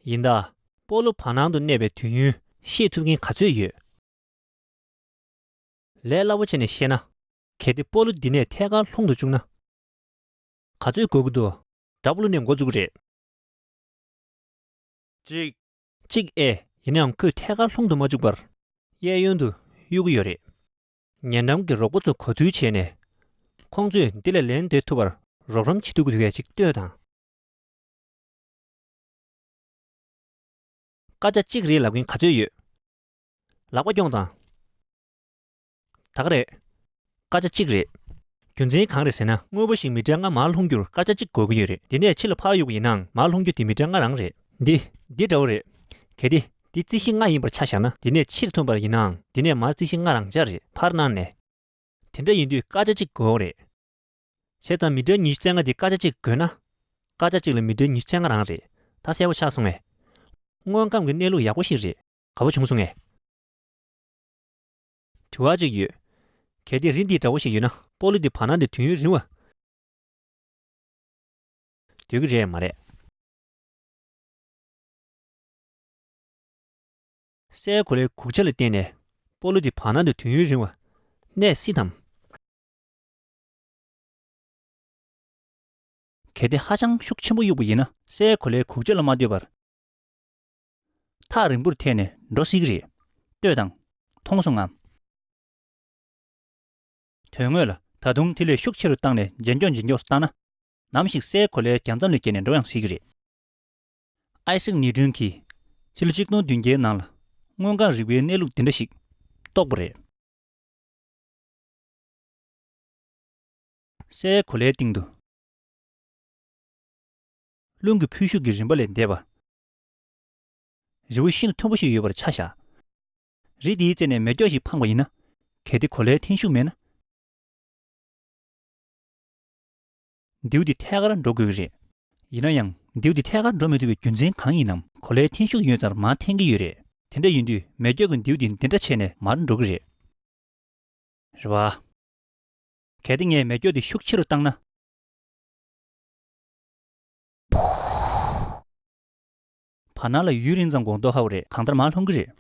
ཡིན། ད་སྤོ་ལོ་བར་སྣང་དུ་གནས་པའི་དུས་ཡུན་ཤེས་ཐུབ་མཁན་ག་ཚོད་ཡོད། ལས་སླ་པོ་བྱས་ནས་བཤད་ན། གལ་ཏེ་སྤོ་ལོ་འདི་ནས་ཐད་ཀར་ལྷུང་དུ་བཅུག་ན། ག་ཚོད་འགོར་གྱི་འདུག། འདྲ་པོ་ལོ་ནས་འགོ་བཙུགས་པ་རེད། གཅིག། གཅིག་ཨེ། ཡིན་ནའང་ཁོས་ཐད་ཀར་ལྷུང་དུ་མ་བཅུག་པར། གཡས་གཡོན་དུ་གཡུག་གི་ཡོད་རེད། ཉེ་འགྲམ་གྱི་རོགས་པོ་ཚོ་གོ་ཐུལ་བྱས་ནས། ཁོང་ཚོས་འདི་ལས་ལན་འདེབས་ཐུབ་པར་རོགས་རམ་བྱེད་ཐུབ་གི་ཡོད་ཅེས་ལྟོས་དང། སྐར་ཆ་གཅིག་རེད་ལབ་མཁན་ག་ཚོད་ཡོད། ལག་པ་རྐྱོང་དང། དག་རེད། སྐར་ཆ་གཅིག་རེད། རྒྱུ་མཚན་གང་རེད་ཟེར་ན་དངོས་པོ་ཞིག་མི་དྲན་ང་མར་ལྷུང་རྒྱུར་སྐར་ཆ་གཅིག་དགོས་ཀྱི་ཡོད་རེད་དེ་ནས་ཕྱི་ལ་ཕར་གཡུག་གི་ཡིན་ནའང་མར་ལྷུང་རྒྱུ་དེ་མི་དྲན་ང་རང་རེད། འདི་འདི་འདྲ་བོ་རེད། གལ་ཏེ་འདི་རྩི་ཤིང་ལྔ་ཡིན་པར་ཆ་བཞག་ན་དེ་ནས་ཕྱིར་ཐོན་པར་ཡིན་ནའང་དེ་ནས་མར་རྩི་ཤིང་ལྔ་རང་འཇགས་རེད་ཕར་སྣང་ནས། དེ་འདྲ་ཡིན་དུས་སྐར་ཆ་གཅིག་དགོས་ཨོ་རེད། བྱས་ཙང་མི་དྲན་ཉི་ཤུ་རྩེ་ལྔ་དེ་སྐར་ཆ་གཅིག་དགོས་ན། སྐར་ཆ་གཅིག་ལ་མི་དྲན་ཉི་ཤུ་རྩེ་ལྔ་རང་རེད་ད་གསལ་པོ་ཆགས་སོང་ངས། དངོས་ཁམས་ཀྱི་གནས་ལུགས་ཡག་པོ་ཞིག་རེད་ག་བོ་བྱུང་སོང་ངས། དྲི་བ་གཅིག་ཡོད། གལ་ཏེ་རི་འདི་འདྲ་བོ་ཞིག་ཡོད་ན་སྤོ་ལོ་འདི་བར་སྣང་དེ་དུས་ཡུན་རིང་བ། འདོད་ཀྱི་རེད་མ་རེད། སའི་གོ་ལའི་གུག་ཆ་ལ་བརྟེན་ནས་སྤོ་ལོ་འདི་བར་སྣང་དེ་དུས་ཡུན་རིང་བ། གནས་སྲིད་དམ། གལ་ཏེ་ཧ་ཅང་ཤུགས་ཆེན་པོ་གཡུག་པ་ཡིན་ན་སའི་གོ་ལའི་གུག་ཆ་ལ་མ་ལྟོས་པར། ཐག་རིང་པོར་ཐལ་ནས་འགྲོ་སྲིད་ཀྱི་རེད། ལྟོས་དང། མཐོང་སོང་ངམ། དོན་དངོས་ལ་ད་དུང་དེ་ལས་ཤུགས་ཆེ་རུ་བཏང་ནས་འཇལ་འགྱོགས་འཇལ་འགྱོགས་སུ་བཏང་ན། ནམ་ཞིག་སའི་གོ་ལའི་གྱང་མཚམས་ལས་བརྒལ་ནས་འགྲོ་ཡང་སྲིད་ཀྱི་རེད། ཨའི་སིག་ནི་ཀྲུན་གྱིས་ཕྱི་ལོ་ཆིག་སྟོང་བདུན་བརྒྱའི་ནང་ལ་དངོས་གང་རིག་པའི་གནས་ལུགས་འདི་འདྲ་ཞིག་རྟོགས་པ་རེད། སའི་གོ་ལའི་སྟེང་དུ། རླུང་གི་འཕུལ་ཤུགས་ཀྱི་རིམ་པ་ལས་འདས་པ། རི་བོ་ཤིན་ཏུ་མཐོན་པོ་ཞིག་ཡོད་པར་ཆ་བཞག། རི་དེའི་རྩེ་ནས་མེ་སྒྱོགས་ཤིག་འཕངས་པ་ཡིན་ན། གལ་ཏེ་གོ་ལའི་འཐེན་ཤུགས་མེད་ན། མདེའུ་དེ་ཐད་ཀར་འགྲོ་དགོས་ཀྱི་རེད། ཡིན་ན་ཡང་མདེའུ་དེ་ཐད་ཀར་འགྲོ་མི་ཐུབ་པའི་རྒྱུ་མཚན་གང་ཡིན་ནམ། གོ་ལའི་འཐེན་ཤུགས་ཡོད་ཙང་མར་འཐེན་གྱི་ཡོད་རེད། དེ་འདྲ་ཡིན་དུས་མེ་སྒྱོགས་ཀྱིས་མདེའུ་དེ་འདི་འདྲ་བྱས་ནས་མར་འགྲོ་གི་རེད། རེད་བ། གལ་ཏེ་ངས་མེ་སྒྱོགས་དེ་ཤུགས་ཆེ་རུ་བཏང་ན། བར་སྣང་ལ་ཡུན་རིང་ཙམ་གོང་མདོག་ཧ་བ་རེད་གང་ལྟར་མར་ལྷུང་གི་རེད།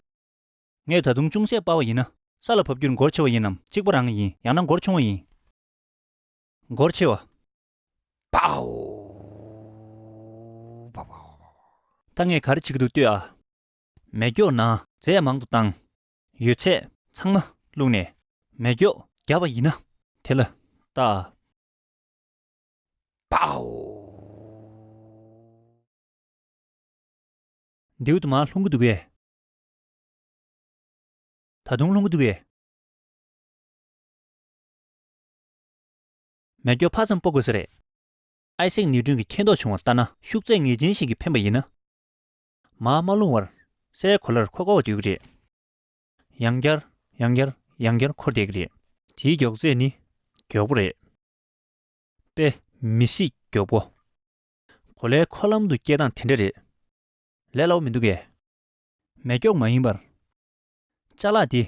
ངས་ད་དུང་ཅུང་ཟད་དཔའ་བ་ཡིན་ན། ས་ལ་བབས་རྒྱུར་འགོར་ཆེ་བ་ཡིན་ནམ་གཅིག་པ་རང་གི་ཡིན་ཡང་ན་འགོར་ཆུང་བ་ཡིན། འགོར་ཆེ་བ། པའོ། ད་ངས་ག་རེ་བྱེད་ཀྱི་འདུག་ལྟོས་ཨ། མེ་སྒྱོགས་ན་རྫས་ཡང་མང་དུ་བཏང། ཡོད་ཚད་ཚང་མ་བླུགས་ནས་མེ་སྒྱོགས་བརྒྱབ་པ་ཡིན་ན། དེ་ལ་བལྟ་ཨ། པའོ། མདེའུ་དུ་མ་ལྷུང་གི་འདུག་གས། ད་དུང་ལྷུང་གི་འདུག་གས། མེ་སྒྱོགས་ཕར་ཙམ་སྤོ་དགོས་ས་རེད། ཨའི་སེང་ནི་སྒྲུང་གི་མཁས་མདོག་བྱུང་བ་ལྟ་ན་ཤུགས་ཚད་ངེས་ཅན་ཞིག་གི་འཕེན་པ་ཡིན་ན། མ་མ་ལྷུང་བར། སའི་གོ་ལར་འཁོར་དགོ་བ་འདོད་ཀྱི་རེད། ཡང་བསྐྱར། ཡང་བསྐྱར། ཡང་བསྐྱར་འཁོར་བསྡད་ཀྱི་རེད། དེའི་མགྱོགས་ཚད་ནི་མགྱོགས་པོ་རེད། དཔེ། མི་སྲིད་མགྱོགས་པོ། གོ་ལའི་འཁོར་ལམ་དུ་སྐྱེལ་སྟངས་དེ་འདྲ་རེད། ལས་སླ་བོ་མི་འདུག་གས། མེད་མགྱོགས་མ་ཡིན་པར། ལྕགས་ལག་འདི།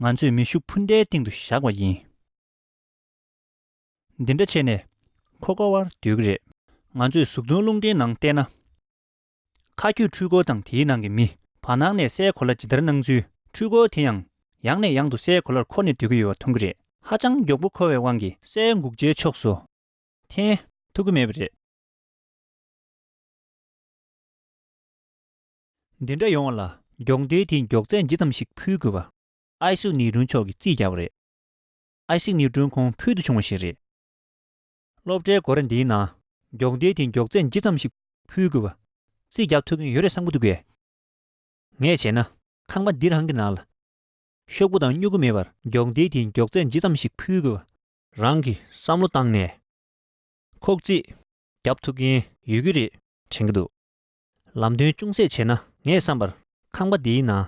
ང་ཚོས་མེ་ཤུགས་འཕུར་མདའི་སྟེང་དུ་བཞག་པ་ཡིན། འདི་འདྲ་བྱས་ནས། ཁོ་ཁ་བར་སྡོད་ཀྱི་རེད། ང་ཚོས་ཟུག་རྡུང་རླུང་འཕྲིན་ནང་བལྟས་ན། མཁའ་སྐྱོད་འཕྲུལ་འཁོར་དང་དེའི་ནང་གི་མི། བར་སྣང་ནས་སའི་གོ་ལ་ཇི་ལྟར་སྣང་ཚུལ། འཕྲུལ་འཁོར་དེ་ཡང། ཡང་ནས་ཡང་དུ་སའི་གོ་ལར་འཁོར་ནས་སྡོད་ཀྱི་ཡོད་པ་མཐོང་གི་རེད། ཧ་ཅང་མགྱོགས་པོ་འཁོར་བའི་དབང་གིས། སའི་འགུགས་བྱའི་ཕྱོགས་སུ། འཐེན། ཐུབ་ཀྱི་མེད་པ་རེད། འདི་འདྲ་ཡོང་བ་ལ། མགྱོགས་འདེད་དེའི་མགྱོགས་ཚད་ཇི་ཙམ་ཞིག་ཕུལ་དགོས་པ། ཨའི་སིག་ནིའུ་ཏྲོན་མཆོག་གིས་རྩིས་རྒྱག་པ་རེད། ཨའི་སིག་ནིའུ་ཏྲོན་ཁོང་ཕུལ་དུ་བྱུང་བ་ཞིག་རེད། སློབ་གྲྭའི་སྒོ་ར་འདིའི་ནང་མགྱོགས་མདེལ་དེ་མགྱོགས་ཚད་ཇི་ཙམ་ཞིག་ཕུལ་དགོས་པ། རྩིས་རྒྱག་ཐུབ་མཁན་ཡོད་རེད་བསམ་གྱི་འདུག་གས། ངས་བྱས་ན་ཁང་པ་འདི་རང་གི་ནང་ལ། ཤོག་བུ་དང་སྨྱུ་གུ་མེད་པར་མགྱོགས་མདེལ་དེའི་མགྱོགས་ཚད་ཇི་ཙམ་ཞིག་ཕུལ་དགོས་པ། རང་གིས་བསམ་བློ་བཏང་ནས་ཁོག་རྩིས་རྒྱབ་ཐུབ་མཁན་ཡོད་ཀྱི་རེད་དྲན་གྱི་འདུག་ལམ་སྟོན་ཅུང་ཟད་བྱས་ན་ངས་བསམ་པར་ཁང་པ་འདིའི་ནང་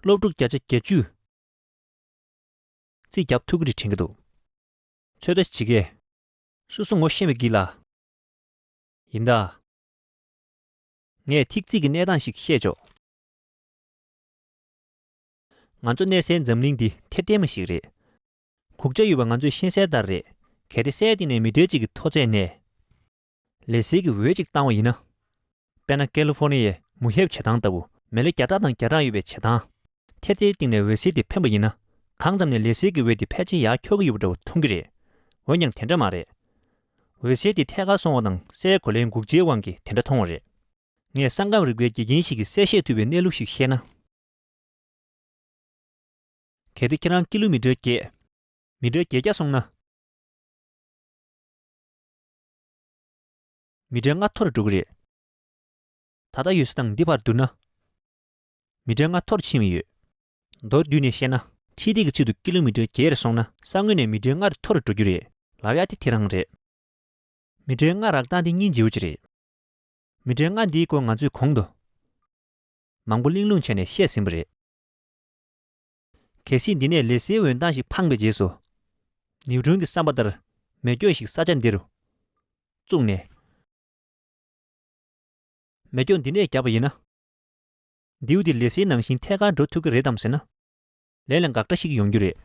སློབ་ཕྲུག་བརྒྱ་ཆ་གྱ་བཅུས་རྩིས་རྒྱབ་ཐུབ་ཀྱི་རེད་དྲན་གྱི་འདུག། ཚོད་ལྟ་བྱེད་མཁས། སོ་སོ་ངོ་ཤེས་མི་བགྱིད་ལ། ཡིན་ད། ངས་ཐིག་རྩིས་ཀྱི་གནས་སྟངས་ཤིག་བཤད་ཆོག། ང་ཚོ་གནས་སའི་འཛམ་གླིང་འདི་ཐེར་ལྡན་མ་ཞིག་རེད། གུག་ཆ་ཡོད་པ་ང་ཚོས་ཤེས་གསལ་ལྟར་རེད། གལ་ཏེ་སའི་སྟེང་ནས་མི་གྲལ་གཅིག་གི་མཐོ་ཚད་ནས། ལས་ཟིལ་གྱི་འོད་ཅིག་བཏང་བ་ཡིན་ན། དཔེར་ན་ཀེ་ལི་ཧྥོ་ནི་ཡའི་མུ་ཧེབ་བྱེ་ཐང་ལྟ་བུ། མེ་ལེ་བརྒྱ་ཕྲག་དང་བརྒྱ་ཕྲག་ཡོད་པའི་བྱེ་ཐང། དེར་དེའི་སྟེང་ནས་འོད་ཟིལ་དེ་འཕེན་པ་ཡིན་ན། གང་ཙམ་ནས་ལས་ཟིལ་གྱི་འོད་དེ་ཕལ་ཆེར་ཡར་འཁྱོག་གི་ཡོད་པ་འདྲ་བོ་མཐོང་གི་རེད། འོན་ཀྱང་དེ་འདྲ་མ་རེད། འོད་ཟིལ་དེ་ཐད་ཀར་སོང་བ་དང་སའི་གོ་ལའི་འགུགས་བྱའི་དབང་གིས་དེ་འདྲ་མཐོང་བ་རེད། ངས་ས་ཁམས་རིག་པའི་དགེ་རྒན་ཞིག་གིས་གསལ་བཤད་ཐུབ་པའི་གནས་ལུགས་ཤིག་བཤད་ན། གལ་ཏེ་ཁྱེད་རང་ཀི་ལུ་མི་ཏྲར་བརྒྱད། མི་ཏྲར་བརྒྱད་བརྒྱ་སོང་ན། མི་དྲན་ང་འཐོར་འགྲོ་གི་རེད། ད་ལྟ་ཡོད་ས་དང་འདི་བར་བསྡུར་ན། མི་དྲན་ང་འཐོར་ཕྱིན་ཡོད། མདོར་བསྡུས་ནས་བཤད་ན། ཁྲིད་སྟེགས་ཀྱི་ཚུལ་དུ་ཀི་ལོ་མི་ཏེར་བརྒྱད་རེ་སོང་ན། ས་ངོས་ནས་མི་དྲན་ངར་འཐོར་འགྲོ་རྒྱུ་རེད། ལབ་ཡག་དེ་དེ་རང་རེད། མི་དྲན་ང་རག་སྟངས་དེ་སྙིང་རྗེ་བོ་ཅིག་རེད། མི་དྲན་ང་འདིའི་སྐོར་ང་ཚོས་གོང་དུ། མང་པོ་གླེང་སློང་བྱས་ནས་བཤད་ཟིན་པ་རེད། གལ་སྲིད་འདི་ནས་ལས་སེའི་འོད་མདངས་ཤིག་འཕངས་པའི་རྗེས་སུ། ནེའུ་ཆུང་གི་བསམ་པ་ལྟར་མེ་སྐྱོན་ཞིག་ས་ཆ་འདི་རུ་བཙུགས་ནས། མེ་སྐྱོན་འདི་ནས་བརྒྱབ་པ་ཡིན་ན། མདེའུ་འདི་ལས་སེའི་ནང་བཞིན་ཐད་ཀར་འགྲོ་ཐུབ་ཀྱི་རེད་དམ་ཟེར་ན། ལས་ལ་འགག་སྒྲ་ཞིག་ཡོང་རྒྱུ་རེད།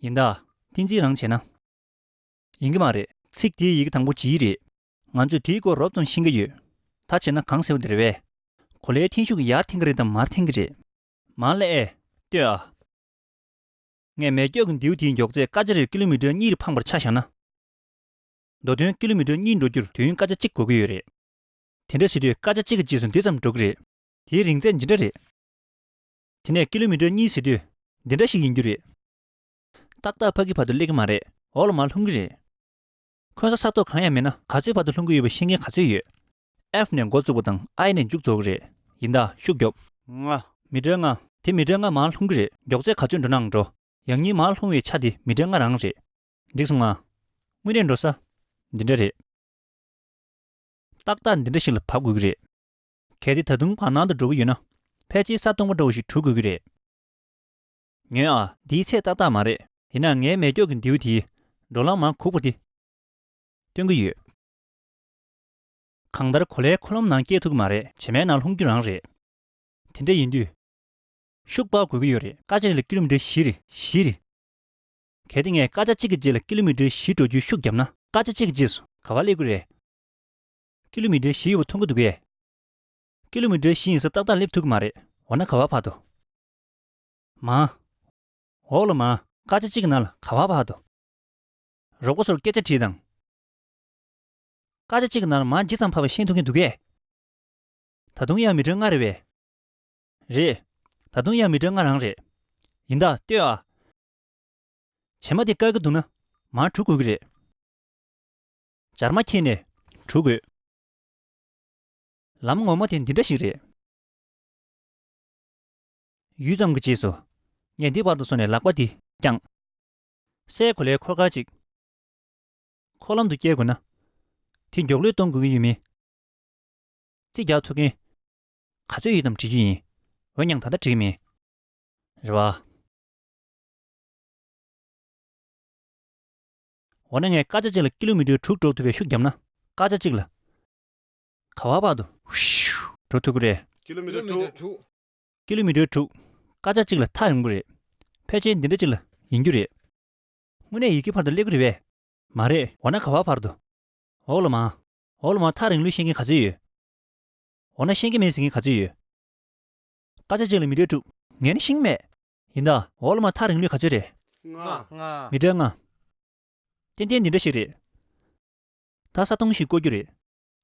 ཡིན་ད། ཏིང་འཛིན་རང་བྱས་ན། ཡིན་གྱི་མ་རེད། ཚིག་དེའི་ཡི་གེ་དང་པོ་ཇི་རེད། ང་ཚོས་དེའི་སྐོར་རོབ་ཙམ་ཤེས་ཀྱི་ཡོད། ད་བྱས་ན་གང་ཟེར་བ་དེ་རེད་བས། གོ་ལའི་འཐེན་ཤུགས་ཡར་འཐེན་གྱི་རེད་དམ་མར་འཐེན་གྱི་རེད། མང་ལེ་ཨེ། ཏོས་ཨ། ངས་མེ་སྒྱོགས་ཀྱི་མདེའུ་དེའི་མགྱོགས་ཚད་སྐར་ཆ་རེར་ཀི་ལོ་མི་ཀྲེར་གཉིས་རེ་འཕངས་པར་ཆ་བཞག་ན། མདོ་དོན་ཀི་ལོ་མི་ཀྲེར་གཉིས་འགྲོ་རྒྱུར་དུས་ཡུན་སྐར་ཆ་གཅིག་འགོར་གྱི་ཡོད་རེད། དེ་འདྲ་བྱེད་དུས་སྐར་ཆ་གཅིག་གི་རྗེས་སུ་འདི་ཙམ་འགྲོ་གི་རེད། དེའི་རིང་ཚད་ཇི་འདྲ་རེད། དེ་ནས་ཀི་ལོ་མི་ཀྲེར་གཉིས་བྱེད་དུས་འདི་འདྲ་ཞིག་ཡིན་རྒྱུ་རེད། ཏག་ཏག་ཕ་གི་བར་དུ་སླེབས་ཀྱི་མ་རེད་འོག་ལ་མར་ལྷུང་གི་རེད། འཁོན་ས་ས་ཐོག་གང་ཡང་མེད་ན་ག་ཚོད་བར་དུ་ལྷུང་གི་ཡོད་པ་ཤེས་མཁན་ག་ཚོད་ཡོད། ཨེ་ནས་མགོ་བཙུགས་པ་དང་ཨའི་ནས་མཇུག་རྫོགས་གི་རེད། ཡིན་ད་ཤུགས་རྒྱོབ། ང། མི་འབྲལ་ང། དེ་མི་འབྲལ་ང་མ་ལྷུང་གི་རེད་མགྱོགས་ཚད་ག་ཚོད་འགྲོ་ནའང་འགྲོ། ཡང་སྙིང་མ་ལྷུང་བའི་ཆ་དེ་མི་འབྲལ་ང་རང་རེད། འགྲིག་སོང་ང། དངོས་གནས་འགྲོ་ས། འདི་འདྲ་རེད། ཏག་ཏག་འདི་འདྲ་ཞིག་ལ་བབ་དགོས་ཀྱི་རེད། གལ་ཏེ་ད་དུང་བར་སྣང་དུ་འགྲོ་གི་ཡོད་ན། ཕལ་ཆེར་ས་སྟོང་པ་འདྲ་བོ་ཞིག་གྲུ་དགོས་ཀྱི་རེད། ཉོན་ཨ། འདིའི་ཚད་ཏག་ཏག་མ་རེད། ཡིན་ནའང་ངའི་མལ་སྐྱོགས་ཀྱི་མདེའུ་དེའི། འགྲོ་ལམ་མ་ཁུག་པ་དེ། སྟོན་གྱི་ཡོད། གང་ལྟར་གོ་ལའི་འཁོར་ལམ་ནང་སྐྱེལ་ཐུབ་ཀྱི་མ་རེད། བྱེ་མའི་ནང་ལྷུང་རྒྱུ་རང་རེད། དེ་འདྲ་ཡིན་དུས། ཤུགས་དཔག་དགོས་ཀྱི་ཡོད་རེད། སྐར་ཆ་རེ་ལ་ཀི་ལོ་མི་ཀྲི་བཞི་རེད། བཞི་རེད། གལ་ཏེ་ངས་སྐར་ཆ་གཅིག་གི་རྗེས་ལ་ཀི་ལོ་མི་ཀྲི་བཞི་འགྲོ་རྒྱུའི་ཤུགས་བརྒྱབ་ན། སྐར་ཆ་གཅིག་གི་རྗེས་སུ་ག་བ་སླེབས་ཀྱི་རེད། ཀི་ལོ་མི་ཀྲི་བཞི་ཡོད་པ་མཐོང་གི་འདུག་གས། ཀི་ལོ་མི་ཀྲི་བཞི་ཡིན་ས་ཏག་ཏག་སླེབས་ཐུབ་ཀྱི་མ་རེད། འོ་ན་ག་བ་བར་དོ། མང། འོག་ལ་མང། སྐར་ཆ་གཅིག་གི་ནང་ལ་ག་བ་བར་དོ། རོགས་པ་ཚོར་སྐད་ཆ་དྲིས་དང། སྐར་ཆ་གཅིག་གི་ནང་ལ་མར་ཇི་ཙམ་འཕར་བ་ཤེས་ཐུབ་ཀྱིན་འདུག་གས། ད་དུང་དབྱར་མི་དྲོད་སྔ་རེད་བས། རེད། ད་དུང་དབྱར་མི་དྲོད་སྔ་རང་རེད། ཡིན་ད། ལྟོས་ཨ། བྱེ་མ་དེ་བཀག་གི་འདུག་ན། མར་དྲུད་དགོས་ཀྱི་རེད། སྦྱར་མ་ཁྱེར་ནས། དྲུད་དགོས། ལམ་ངོ་མ་དེ་འདི་འདྲ་ཞིག་རེད། ཡུད་ཙམ་གྱི་རྗེས་སུ། ངས་འདི་བར་དུ་སོང་ནས་ལག་པ་འདི་བརྐྱངས། སའི་གོ་ལའི་འཁོར་སྐར་ཅིག། འཁོར་ལམ་དུ་བསྐྱལ་དགོས་ན། དེ་མགྱོགས་ལུས་གཏོང་དགོས་ཀྱི་ཡོད་མིན། རྩིས་རྒྱག་ཐུབ་མཁན། ག་ཚོད་ཡོད་དམ་དྲིས་རྒྱུ་ཡིན། འོན་ཀྱང་ད་ལྟ་བྲིས་མེད། རེད་བ། འོ་ན་ངས་སྐར་ཆ་གཅིག་ལ་ཀི་ལོ་མི་ཀྲོའི་དྲུག་འགྲོ་ཐུབ་པའི་ཤུགས་བརྒྱབ་ན། སྐར་ཆ་གཅིག་ལ། ག་བ་བར་དུ། འགྲོ་ཐུབ་ཀི་རེད། ཀི་ལོ་མི་ཀྲོ་དྲུག། ཀི་ལོ་མི་ཀྲོའི་དྲུག། སྐར་ཆ་གཅིག་ལ་ཐག་རིང་པོ་རེད། ཕལ་ཆེར་འདི་འདྲ་གཅིག་ལ་ཡིན་རྒྱུ་རེད། དངོས་གནས་ཡི་གེ་བར་དུ་སླེབས་གི་རེད་པས། མ་རེད། འོ་ན་ག་བ་བར་དུ། འོག་ལོ་མ། འོག་ལོ་མ་ཐག་རིང་ལུགས་ཤེས་མཁན་ག་ཚོད་ཡོད། འོ་ན་ཤེས་མཁན་མེད་ཟེར་མཁན་ག་ཚོད་ཡོད། སྐར་ཆ་གཅིག་ལ་མི་གྲལ་དྲུག། ངས་ནི་ཤིང་མེད། ཡིན་ད། འོག་ལོ་མ་ཐག་རིང་ལུགས་ག་ཚོད་རེད། ལྔ། མི་གྲལ་ལྔ། ཏན་ཏན་འདི་འདྲ་ཞིག་རེད། ད་ས་སྟོང་ཞིག་བརྐོ་རྒྱུ་རེད།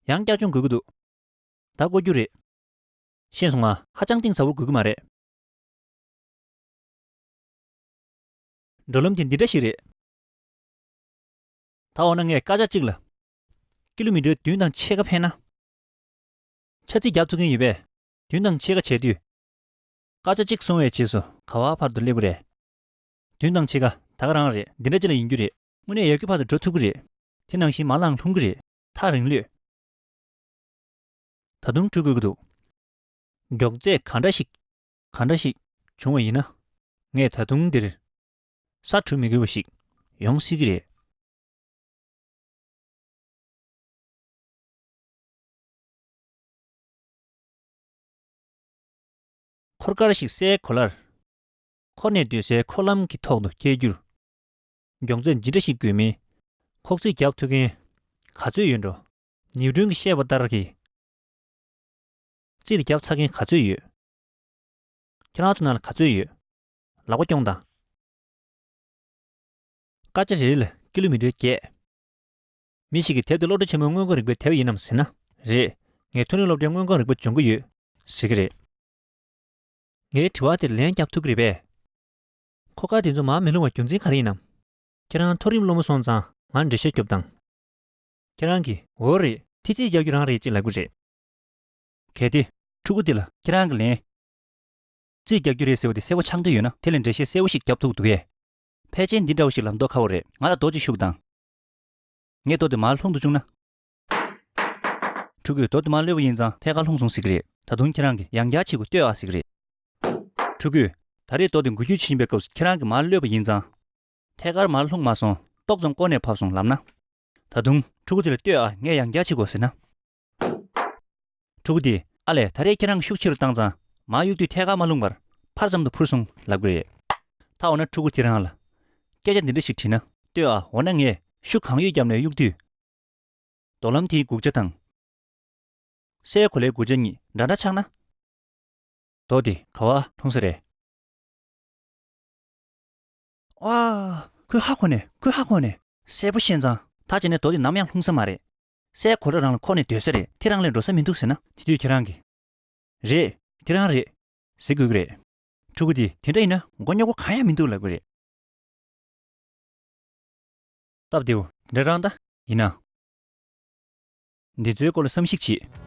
ཡང་བསྐྱར་སྦྱོང་དགོས་ཀྱི་འདུག། ད་བརྐོ་རྒྱུ་རེད། ཤེས་སོང་ང། ཧ་ཅང་གཏིང་ཟབ་བོ་དགོས་ཀྱི་མ་རེད། འགྲོ་ལམ་གྱི་འདི་འདྲ་ཞིག་རེད། ད་འོ་ན་ངས་བཀའ་ཤག་ཅིག་ལ། སྐྱིད་ལུག་མི་འདྲའི་མདུན་དང་ཕྱེད་ཀ་འཕེན་ན། ཆ་ཚིག་རྒྱབ་འཚུགས་མཁན་ཡོད་པས་མདུན་དང་ཕྱེད་ཀ་བྱས་དུས། བཀའ་ཤག་ཅིག་སོང་བའི་རྗེས་སུ་ག་བ་བར་དུ་སླེབས་ཀྱི་རེད། མདུན་དང་ཕྱེད་ཀ་ད་ག་རང་རེད་འདི་འདྲ་ཅི་ལ་ཡིན་རྒྱུ་རེད། དངོས་གནས་ཡར་རྒྱུག་བར་དུ་འགྲོ་ཐུབ་ཀྱི་རེད། དེ་ནང་བཞིན་མ་ལངས་ལྷུང་གི་རེད། ཐག་རིང་ལུས། ད་དུང་བཀྲུ་དགོས་ཀྱི་འདུག། མགྱོགས་ཚད་ག་འདྲ་ཞིག། གང་འདྲ་ཞིག་བྱུང་བ་ཡིན་ན་ངས་ད་དུང་འདིར་ས་དྲུད་མི་དགོས་པ་ཞིག་ཡོང་སྲིད་ཀྱི་རེད། འཁོར་སྐར་ཞིག་སའི་གོ་ལར་འཁོར་ནས་སྡོད་སའི་འཁོར་ལམ་གྱི་ཐོག་ཏུ་བསྐྱལ་རྒྱུར་མགྱོགས་ཚད་ཇི་འདྲ་ཞིག་དགོས་མིན་ཁོག་རྩིས་རྒྱག་ཐུབ་མཁན་ག་ཚོད་ཡོད་འགྲོ། ནིའུ་ཏུན་གྱིས་བཤད་པ་ལྟར་གྱི། རྩིས་རྒྱབ་ཚ་མཁན་ག་ཚོད་ཡོད། ཁྱེད་རང་ཚོ་ནང་ལ་ག་ཚོད་ཡོད། ལག་པ་རྐྱོང་དང། སྐར་ཆ་རེ་རེ་ལ་ཀི་ལོ་མི་ཏྲེར་བརྒྱད། མི་ཞིག་གི་དེབ་དེ་སློབ་གྲྭ་ཆེན་མོའི་དངོས་ཁང་རིག་པའི་དེབ་ཡིན་ནམ་ཟེར་ན། རེད། ངས་མཐོ་རིམ་སློབ་གྲྭའི་དངོས་ཁང་རིག་པ་སྦྱོང་གི་ཡོད། ཟེར་གི་རེད། ངའི་དྲི་བ་དེར་ལན་རྒྱབ་ཐུབ་ཀི་རེད་པས། ཁོ་སྐར་དེ་ཚོ་མར་མི་ལྷུང་བར་རྒྱུ་མཚན་ག་རེ་ཡིན་ནམ། ཁྱེད་རང་མཐོ་རིམ་སློབ་མ་སོང་ཙང་ང་འགྲེལ་བཤད་རྒྱོབ་དང། ཁྱེད་རང་གིས་འོ་རེད་ཐི་ཚིག་རྒྱག་རྒྱུ་རང་རེད་ཅེས་ལབ་ཀི་རེད། གལ་ཏེ། ཕྲུ་གུ་འདི་ལ་ཁྱེད་རང་གི་ལན། རྩིས་རྒྱག་རྒྱུ་རེད་ཟེར་བ་དེ་གསལ་བོ་ཆགས་འདོད་ཡོད་ན་དེ་ལས་འགྲེལ་བཤད་གསལ་བོ་ཞིག་རྒྱབ་ཐུག་འདུག་གས། ཕལ་ཆེར་འདི་འདྲ་བོ་ཞིག་ལ་མདོ་ཁ་བོ་རེད། ང་ལ་རྡོ་གཅིག་ཤུགས་དང། ངས་རྡོ་དེ་མར་ལྷུང་དུ་བཅུག་ན། ཕྲུ་གུས་རྡོ་དེ་མར་གློད་པ་ཡིན་ཙང་ཐད་ཀར་ལྷུང་སོང་ཟེར་གྱི་རེད། ད་དུང་ཁྱེད་རང་གིས་ཡང་བསྐྱར་བྱེད་དགོས་ལྟོས་ཨ་ཟེར་གྱི་རེད། ཕྲུ་གུས། ད་རེས་རྡོ་དེ་འགུལ་སྐྱོད་བྱེད་བཞིན་པའི་སྐབས་སུ་ཁྱེད་རང་གིས་མར་གློད་པ་ཡིན་ཙང། ཐད་ཀར་མར་ལྷུང་མ་སོང། ཏོག་ཙམ་བསྐོར་ནས་བབས་སོང་ལབ་ན། ད་དུང། ཕྲུ་གུ་དེ་ལ་ལྟོས་ཨ་ངས་ཡང་བསྐྱར་བྱེད་དགོས་ཟེར་ན། དྲུག་སྟེ། ཨ་ལས་ད་རེས་ཁྱེད་རང་ཤུགས་ཆེ་རུ་བཏང་ཙང་མ་གཡུག་དུས་ཐད་ཀར་མ་བསླུངས་པར་ཕར་ཙམ་དུ་འཕུར་སོང་ལབ་དགོས་རེད། ད་འོ་ན་ཕྲུ་གུ་ཁྱེད་རང་ལ་སྐད་ཆ་འདི་འདྲ་ཞིག་དྲིས་ན་ལྟོས་ཨ་འོ་ན་ངས་ཤུགས་གང་ཡོད་བརྒྱབ་ནས་གཡུག་དུས། རྡོ་ལམ་དེའི་དགུག་ཆ་དང། སའི་གོ་ལའི་དགུག་ཆ་གཉིས་འདྲ་འདྲ་ཆགས་ན། རྡོ་དེ་ག་བ་ལྷུང་ས་རེད། ཨ། ཁོའི་ཧ་གོ་ནས་ཁོའི་ཧ་གོ་ནས། གསལ་པོ་ཤེས་ཙང་ད་བྱས་ནས་རྡོ་དེ་ནམ་ཡང་ལྷུང་ས་མ་རེད། སའི་གོ་ལ་རང་ལ་ཁོག་ནས་སྡོད་ས་རེད་དེ་རང་ལས་འགྲོ་ས་མི་འདུག་ཟེར་ན་དེ་དུས་ཁྱེད་རང་གིས། རེད། དེ་རང་རེད། ཟེར་དགོས་ཀྱི་རེད། ཕྲུ་གུ་དེ་དེ་འདྲ་ཡིན་ན་མགོ་རྙོག་པོ་གང་ཡང་མི་འདུག་ལབ་ཀྱི་རེད། སྟབས་བདེ་བོ་དེ་འདྲ་རང་ད་ཡིན་ན། འདི་ཚོའི་སྐོར་ལ་བསམ་གཞིགས་བྱེད།